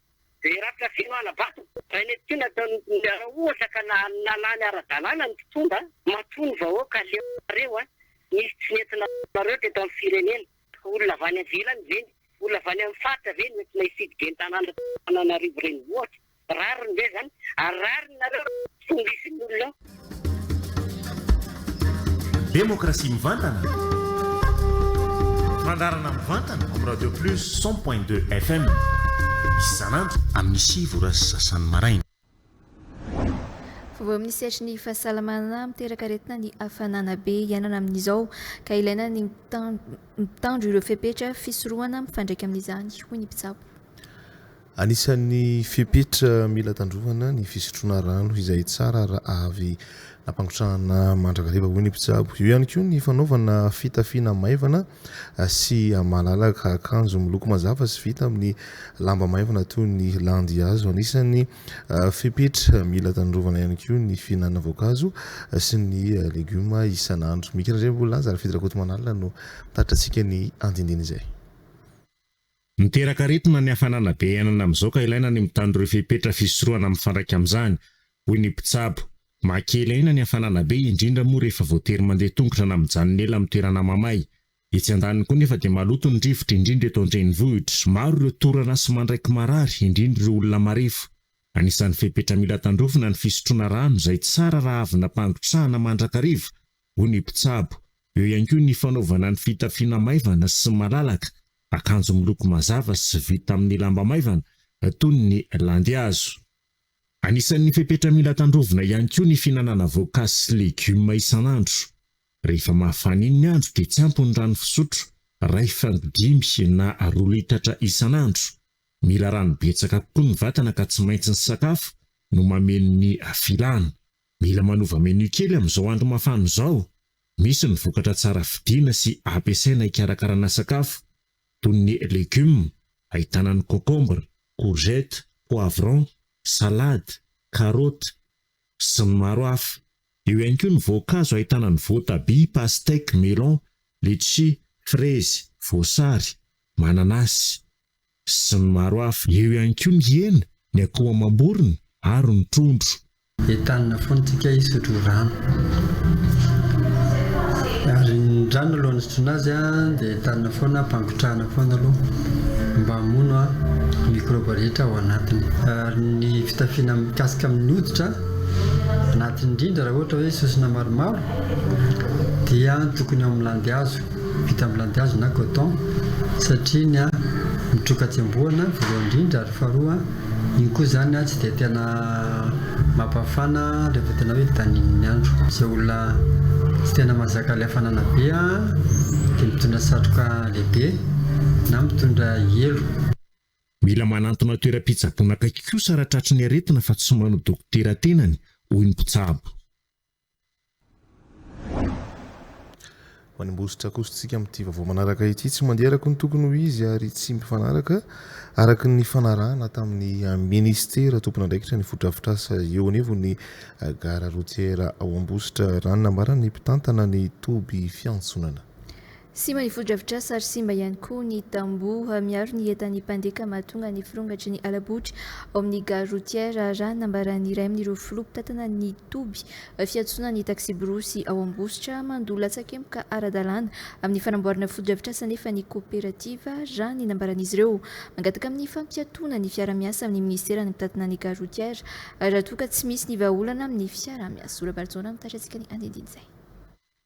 Dia Ratrafino Halabato, izay mety tsy nataon'ireo raha ohatra ka nalany ara-dalàna ny mpitondra, matoa ny vahoaka leo anareo a! Nisy tsy nety nataonareo teto amin'ny firenena. Olona avy any ivelany ve ny, olona avy any amin'ny faritra ve no entina hifidy ben'ny tanàna teto Antananarivo Renivohitra? Rariny ve izany? Ary rariny nareo raha Fomba isin' olona ao. Demokrasia mivantana, fandaharana mivantana amin'ny Radio Plus cent point deux FM isan'andro amin'ny sivy ora sy sasany maraina. Vaovao amin'ny sehatry ny fahasalamana, Miteraka aretina ny hafanana be iainana amin'izao ka ilaina ny mitandro ireo fepetra fisorohana mifandraika amin'izany, hoy ny mpitsabo. Anisan'ny fepetra mila tandrovana ny fisotroana rano izay tsara raha avy nampangotrahana mandrakariva, hoy ny mpitsabo. Eo ihany koa ny fanaovana fitafiana maivana sy malalaka, akanjo miloko mazava sy vita amin'ny lamba maivana toy ny landihazo. Anisan'ny fepetra mila tandrovana ihany koa ny fihinanana voankazo sy ny legioma isan'andro. Mikira indray ny Voalazan'i Fidy Rakotomanala no mitaritra antsika ny andinindiny izay. Miteraka aretina ny hafanana be iainana amin'izao ka ilaina ny mitandro ireo fepetra fisorohana mifandraika amin'izany, hoy ny mpitsabo. Mahakely aina ny hafanana be, indrindra moa rehefa voatery mandeha tongotra na mijanona ela amin'ny toerana mamay. Etsy andaniny koa nefa dia maloto ny rivotra, indrindra eto an-drenivohitra. Maro ireo torana sy mandraiky marary, indrindra ireo olona marefo. Anisan'ny fepetra mila tandrovina ny fisotroana rano, izay tsara raha avy nampangotrahana mandrakariva, hoy ny mpitsabo. Eo ihany koa ny fanaovana ny fitafiana maivana sy malalaka, akanjo miloko mazava sy vita amin'ny lamba maivana toy ny landihazo. Anisan'ny fepetra mila tandrovina ihany koa ny fihinanana voankazo sy legioma isan'andro. Rehefa mafana iny ny andro dia tsy ampy ny rano fisotro iray fango dimy na roa litatra isan'andro. Mila rano betsaka kokoa ny vatana ka tsy maintsy ny sakafo no mameno ny filana. Mila manova menu kely amin'izao andro mafana izao, misy ny vokatra tsara vidiana sy ampiasaina hikarakarana sakafo, toy ny legumes, ahitana ny concombre, courgette, poivron, salade, carottes, sy ny maro hafa. Eo ihany koa ny voankazo ahitana ny voatabia, pastèque, melon, letchis, frezy, voasary, mananasy. sy ny maro hafa. Eo ihany koa ny hena, ny akoho amam-borona ary ny trondro. Entanina foana tsika hisotro rano. Ary ny rano alohan'ny hisotroana azy dia entanina foana ampangotrahana foana aloha mba hamono ny mikrôba rehetra ao anatiny. Ary ny fitafiana mikasika amin'ny hoditra anatiny indrindra raha ohatra hoe sosona maromaro dia tokony ao amin'ny landihazo. vita amin'ny landihazo na coton satria ny mitroka tsembohana voalohany indrindra ary faharoa iny koa izany tsy dia tena mampafana rehefa tena hoe daninin'ny andro. Izay olona tsy tena mahazaka ilay hafanana be dia mitondra satroka lehibe na mitondra elo. Mila manantona toeram-pitsaboana akaiky kosa raha tratry ny aretina fa tsy manao dokotera tenany, hoy ny mpitsabo. Manimbosotra kosa isika amin'ity vaovao manaraka ity, tsy mandeha araka ny tokony ho izy ary tsy mifanaraka araka ny fanarahana tamin'ny minisitera tompon'andraikitra ny fotodrafitrasa eo anivon'ny gara rotiera ao Ambositra, raha ny nambaran'ny mpitantana ny toby fiantsonana. Simba ny fotodrafitrasa ary simba ihany koa ny tamboho miaro ny entan'ny mpandeka mahatonga ny firongatry ny hala-botry ao amin'ny gare routière, raha ny nambaran'ny iray amin'ireo filoha mpitantana ny toby fiantsonan'ny taksiborosy ao Ambositra. Mandoa latsakemboka ara-dalàna amin'ny fanamboarana fotodrafitrasa anefa ny koperativa, raha ny nambaran'izy ireo. Mangataka amin'ny fampiatoana ny fiara-miasa amin'ny minisiteran'ny mpitantana ny gare routière raha toa ka tsy misy ny vahaolana amin'ny fiara-miasa. Ola Barijaona mitatra antsika ny andinindin'izay.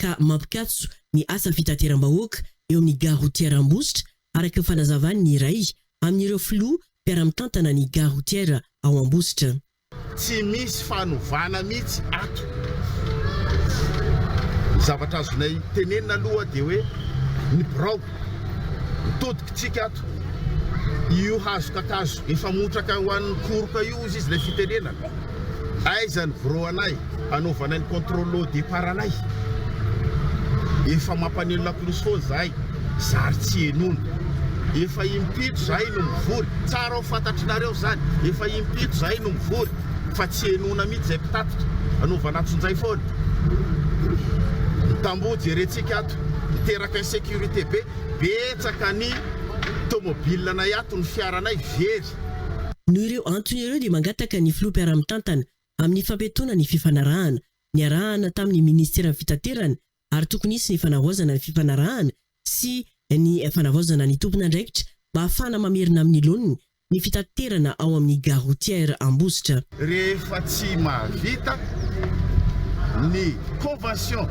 ka mampikatso ny asa fitateram-bahoaka eo amin'ny Gare Routière Ambositra, araka ny fanazavan'ny iray amin'ireo filoha mpiara-mitantana ny Gare Routière ao Ambositra. Tsy misy fanovana mihitsy ato. Ny zavatra azonay tenenina aloha dia hoe ny birao no todikitsika ato. Io hazo kakazo efa motraka ho an'ny koroka io hozy izy ilay fitenenana. Aiza ny bro anay anaovanay ny contrôle au départ anay? Efa mampaneno lakolosy foana zahay zary tsy henoina. Efa impito zahay no mivory, tsara ho fantatrinareo zany, efa impito zahay no mivory fa tsy henoina mihitsy zay mpitatitra, anaovana antsonjay foana. Ny tamboho jerentsika ato miteraka insécurité be, betsaka ny tomobilinanay ato, ny fiaranay very. Noho ireo antony ireo dia mangataka ny Filoha mpiara-mitantana amin'ny fampiatoana ny fifanarahana. Niarahana tamin'ny Minisiteran'ny Fitaterana ary tokony hisy ny fanavaozana ny fifanarahana sy ny fanavaozana ny tompon'andraikitra mba hahafahana mamerina amin'ny laoniny ny fitaterana ao amin'ny Gare Routière Ambositra. Rehefa tsy mahavita ny convention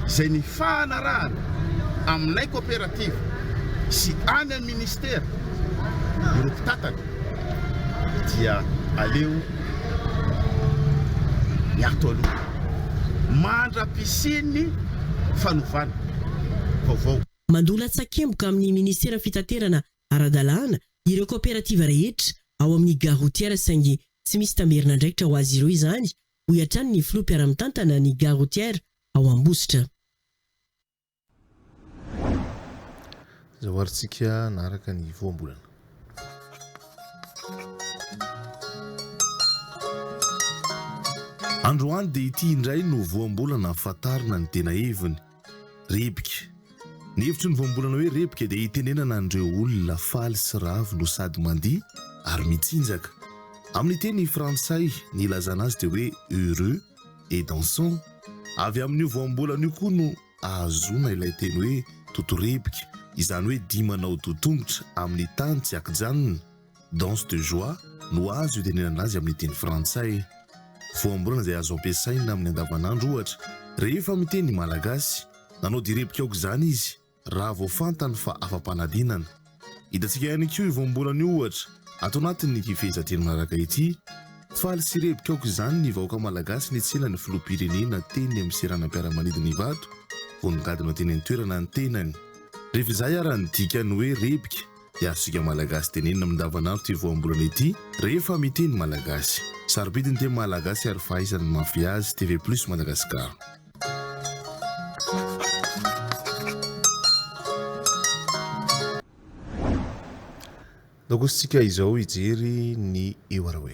izay nifanarahana aminay coopérative sy any amin'ny ministera ireo mpitantana dia aleo miato aloha mandra-pisian'ny fanovana vaovao. Mandoa latsakemboka amin'ny minisiteran'ny fitaterana ara-dalàna ireo kaoperativa rehetra ao amin'ny Gare Routière saingy tsy misy tamberin'andraikitra ho azy ireo izany, hoy hatrany ny filoha mpiara-mitantana ny Gare Routière ao Ambositra. Izao ary tsika hanaraka ny voambolana. Androany dia ity indray no voambolana fantarina ny tena heviny. Repiky. Ny hevitry ny voambolana hoe repiky dia itenenana an'ireo olona faly sy ravo no sady mandihy ary mitsinjaka. Amin'ny teny frantsay, ny ilazana azy dia hoe heureux et dansant. Avy amin'io voambolana io koa no ahazoana ilay teny hoe toto-repiky, izany hoe dihy manao doha tongotra amin'ny tany tsy ankijanona. Danse de joie no azo itenenana azy amin'ny teny frantsay. Voambolana izay azo ampiasaina amin'ny andavanandro, ohatra, rehefa miteny malagasy. Nanao direbika aoka izany izy, raha vao fantany fa afa-panadinana. Hitantsika ihany koa io voambolana io, ohatra, ato anatin'ny ity fehezanteny manaraka ity, Faly sy rebika aoka izany ny vahoaka malagasy nitsena ny filoham-pirenena teny amin'ny seranam-piaramanidina Ivato vao nigadona teny an-toerana ny tenany. Rehefa izay ary ny dikany hoe rebika Dia azontsika Malagasy tenenina amin'ny andavanandro ity voambolana ity rehefa miteny Malagasy. Sarobidy ny teny Malagasy ary fahaizana ny mahafehy azy, TV Plus Madagascar. Nokosintsika izao hijery ny Ewarawe.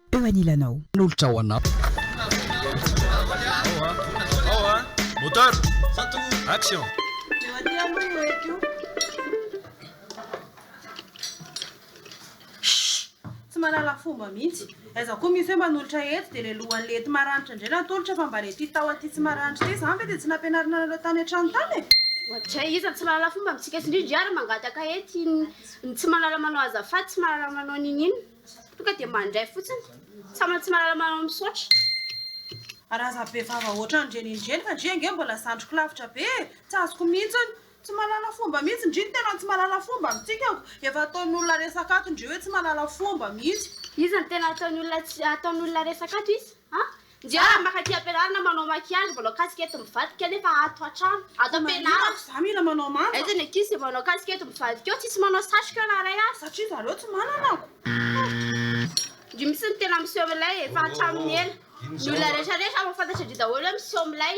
eo anilanao. Nolotra ho anao. Tsy mahalala fomba mihitsy. Aiza koa mi fe manolotra eto dia le lohany le ety maranitra indray natolotra fa mba le ty tao aty tsy maranitra ty zany ve dia tsy nampianarina anareo tany antrano tany e? Ohatrizay iza tsy mahalala fomba mitsika sy indrindra iza ary mangataka ety ny tsy mahalala manao azafady tsy mahalala manao nini inona. Tonga dia mandray fotsiny. Sa mba tsy mahalala manao misaotra. Raha za be vava otran dry nindry fa ndry ange mbola zandriko lavitra be e! Tsy azoko mihitsiny! Tsy mahalala fomba mihitsy ndry ny tenany tsy mahalala fomba mitsikako! Efa ataon'olona resaka ato ndry hoe tsy mahalala fomba mihitsy! Iza no tena ataon'olona ataon'olona resaka ato izy a? Nja maka aty ampianarana manao maquillage manao casquette mivadika nefa ato atrano ato ampianarana Tsy za mila manao manja. Aiza ny ankizy zay manao casquette mivadika eo tsisy manao satroka na ray aza. Satria zareo tsy manana ako. Ndry misy ny tena miseho milay e fa hatramin'ny ela ny olona rehetra rehetra mahafantatra ndry daholo hoe miseho milay.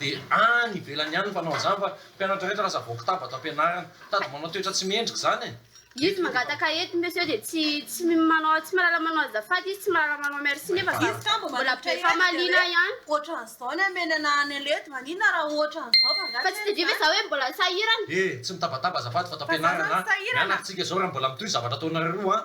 Dia any ivelany any ny mpanao an'izany fa mpianatra rehetra lasa voky taba ato am-pianarana. Tady manao toetra tsy mendrika izany e! Izy mangataka eto monsieur dia tsy tsy manao tsy mahalala manao azafady izy tsy mahalala manao merci nefa za mbola be famaliana ihany. Ohatran'izao ny hamenana any anle edy maninona raha ohatran'izao fa nga tsy Fa tsy tadidio ve za hoe mbola sahirana? Eh! Tsy mitabataba azafady fa ato am-pianarana an! Mianatra tsika izao raha mbola mitohy zavatra ataonareo roa an!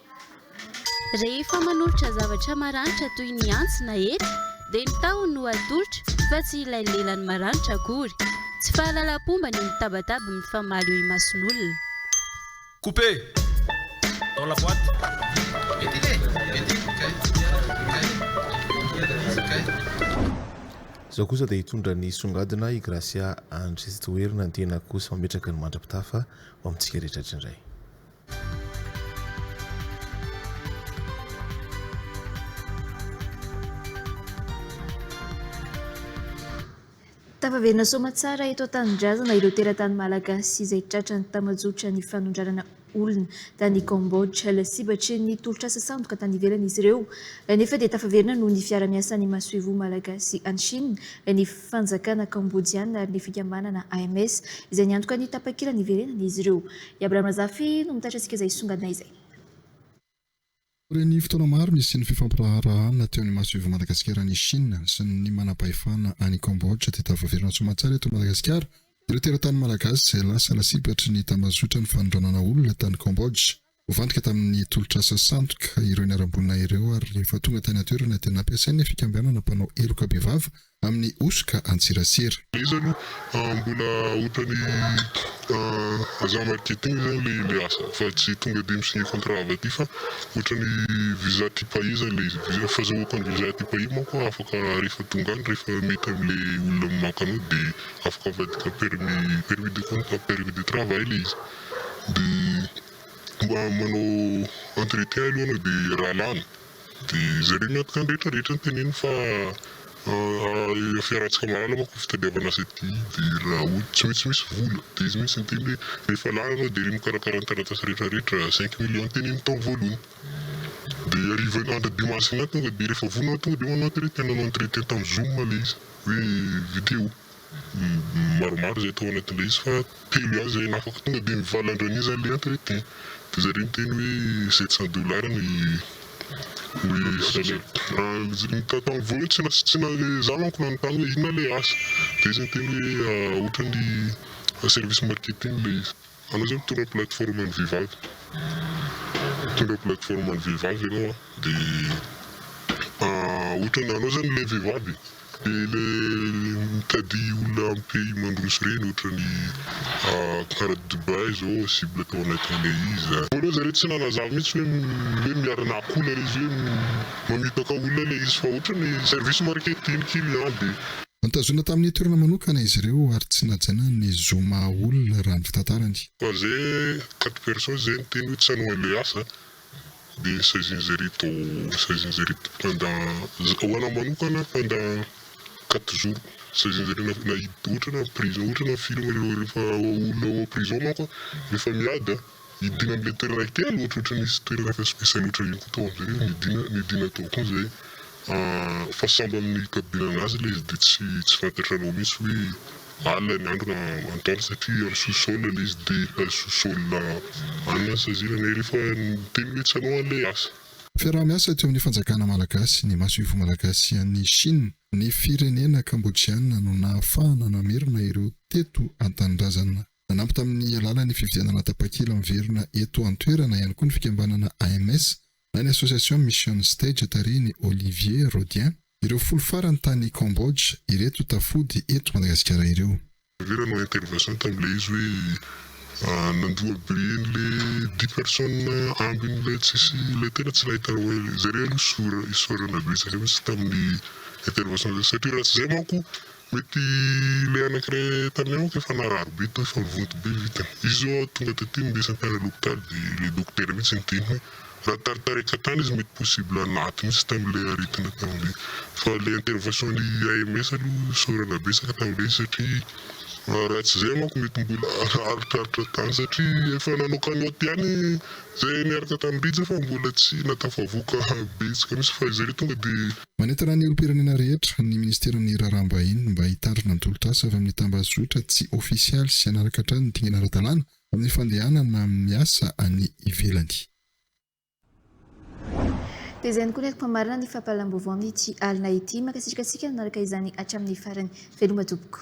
Rehefa manolotra zavatra maranitra toy ny antsy na hety dia ny tahony no atolotra fa tsy ilay lelany maranitra akory. Tsy fahalalam-pomba ny mitabataba mifamaly eo imason'olona. Couper dans la boite Izao kosa dia hitondra ny songadina i Gracia Andry Toerina ny tenako sy mametraka ny mandra-pitafa ho amintsika rehetra rehetra indray. Tafaverina soamatsara eto an-tanindrazana ireo teratany malagasy izay tratran'ny tambajotra ny fanondranana olona tany Cambodge. Lasibatry ny tolotr'asa sandoka tany ivelany izy ireo nefa dia tafaverina noho ny fiara-miasan'ny masoivoho malagasy any Chine ny fanjakana Kambodiana ary ny fikambanana AMS izay niantoka ny tapakila niverenan'izy ireo. I Abraham Razafy no mitaitra antsika izay hisongadina izay. Taorian'ny fotoana maro nisian'ny fifampiraharahana teo ny masoivo'i Madagasikara an'i Chine sy ny manampahefana any Cambodge dia tafaverina soamantsara eto Madagasikara ireo teratany malagasy izay lasa lasibatry ny tambazotran'ny fanondranana olona tany Cambodge. Voafantika tamin'ny tolotr'asa sandoka ireo niharam-boina ireo ary rehefa tonga tany an-toerana dia nampiasain'ny fikambanana mpanao heloka bevava amin'ny hosoka an-tserasera. Iza no mbola otany aza marketing zany le le asa fa tsy tonga de mi signe contrat avy aty fa otrany visa ty pays zany le izy visa fazahoako any visa ty pays manko afaka refa tonga any refa mety amle olona mimaka anao de afaka avadika permis permis de conta permis de travail le izy de mba manao entretien aloha anao de raha lany Dia izay re ny antoka ny rehetra rehetra no teneniny fa an fiarahantsika mahalala manko ny fitadiavana asa ity dia raha ohatra tsy maintsy misy vola dia izy mihintsy niteny hoe rehefa lany anao dia re mikarakara ny taratasy rehetra rehetra cinq millions no teneniny tao voalohany dia hariva andro dimy mars iny aho tonga dia rehefa vonona aho tonga dia manao entrée nanao entrée teny tamin'ny zoom ilay izy hoe video. Maromaro izay tao anatin'ilay izy fa telo ihany izay nafaka tonga dia nivalan-dreniny izany ilay entrée dia izay reny teny hoe sept cent dollars no i salaire dia tamin'ny voalohany tsy tsy za manko nanontany hoe inona ilay asa dia izy niteny hoe ohatran'ny service marketing ilay izy. Anao zao mitondra plateforme an'ny vehivavy, mitondra plateforme an'ny vehivavy ianao an, dia ohatran'ny anao zany ilay vehivavy e, dia ilay mitady olona amin'ny pays mandroso ireny ohatran'ny kara Dubaï zao cible tao anatin'ilay izy an. Voalohany zareo tsy nanazava mihintsy hoe hoe miara-nahakola ilay izy hoe mamitaka olona ilay izy fa ohatran'ny service marketing client dia. Notazonina tamin'ny toerana manokana izy ireo ary tsy najanany ny zo maha olona raha ny fitantarany. Fa ze quatre personnes ze niteny hoe tsy hanao an'ilay asa dia saizin'izaireto saizin'izaireto pendant ho anahy manokana pendant quatre jours saizin'izareo na ohatra hoe prison ohatra hoe film rehefa olona ao prison manko rehefa miady an! Nidina an'ilay toerana kely ohatrohatry ny nisy toerana fesifesy loatra iny koa tao amin'izay izy, nidina nidina tao koa izay fa sambo amin'ny hikabinana azy ilay izy dia tsy tsy fantatranao mihitsy hoe alina ny andro na antoandro satria amin'ny sous-sol ilay izy dia ilay sous-sol any no sazinana e, rehefa miteny hoe tsy anao an'ilay asa. Fiaraha-miasa teo amin'ny fanjakana malagasy, ny Masoivoho Malagasy sy an'i Chine, ny firenena Kambodjiana no nahafahana namerina ireo teto an-tanindrazana. Nanampy tamin'ny alalan'ny fividianana tapakila miverina eto an-toerana ihany koa ny fikambanana AMS na ny Association Mission Stage tarihin'i Olivier Rodien ireo folo farany tany Cambodge ireto tafody eto Madagasikara ireo. Vera no intervention tamin'ilay izy hoe nandroa be an'ilay dix personnes ambin'ilay tsisy ilay tena tsy nahita raha hoe izay re aloha isaorana betsaka mihitsy tamin'ny intervention izay satria raha tsy izay manko Mety ilay anankiray taminay manko efa narary be tao efa mivonto be ny vitany. Izy zao aho tonga taty niresa ny mpianany hopitaly de ilay dokotera mihitsy niteny hoe raha taritarika tany izy mety possible naty mihitsy tamin'ilay aretina tamin'ilay fa ilay intervention ny AMS aloha isaorana betsaka tamin'ilay izy satria raha tsy izay manko mety mbola haharitranitra tany satria efa nanao cagnotte ihany izay niaraka tamin'i Rija fa mbola tsy na tafavoaka betsaka mihitsy fa izay re tonga de Manentana ny olom-pirenena rehetra ny Ministeran'ny Raharaham-bahiny mba hitandrina ny tolotr'asa avy amin'ny tambazotra tsy ofisialy sy hanaraka hatrany ny dingana ara-dalàna amin'ny fandehanana amin'ny asa any ivelany. Dia izay no konekom-pamarinana ny fampahalalam-baovao amin'ity alina ity. Mankasitraka antsika nanaraka izany hatramin'ny farany. Veloma tompoko.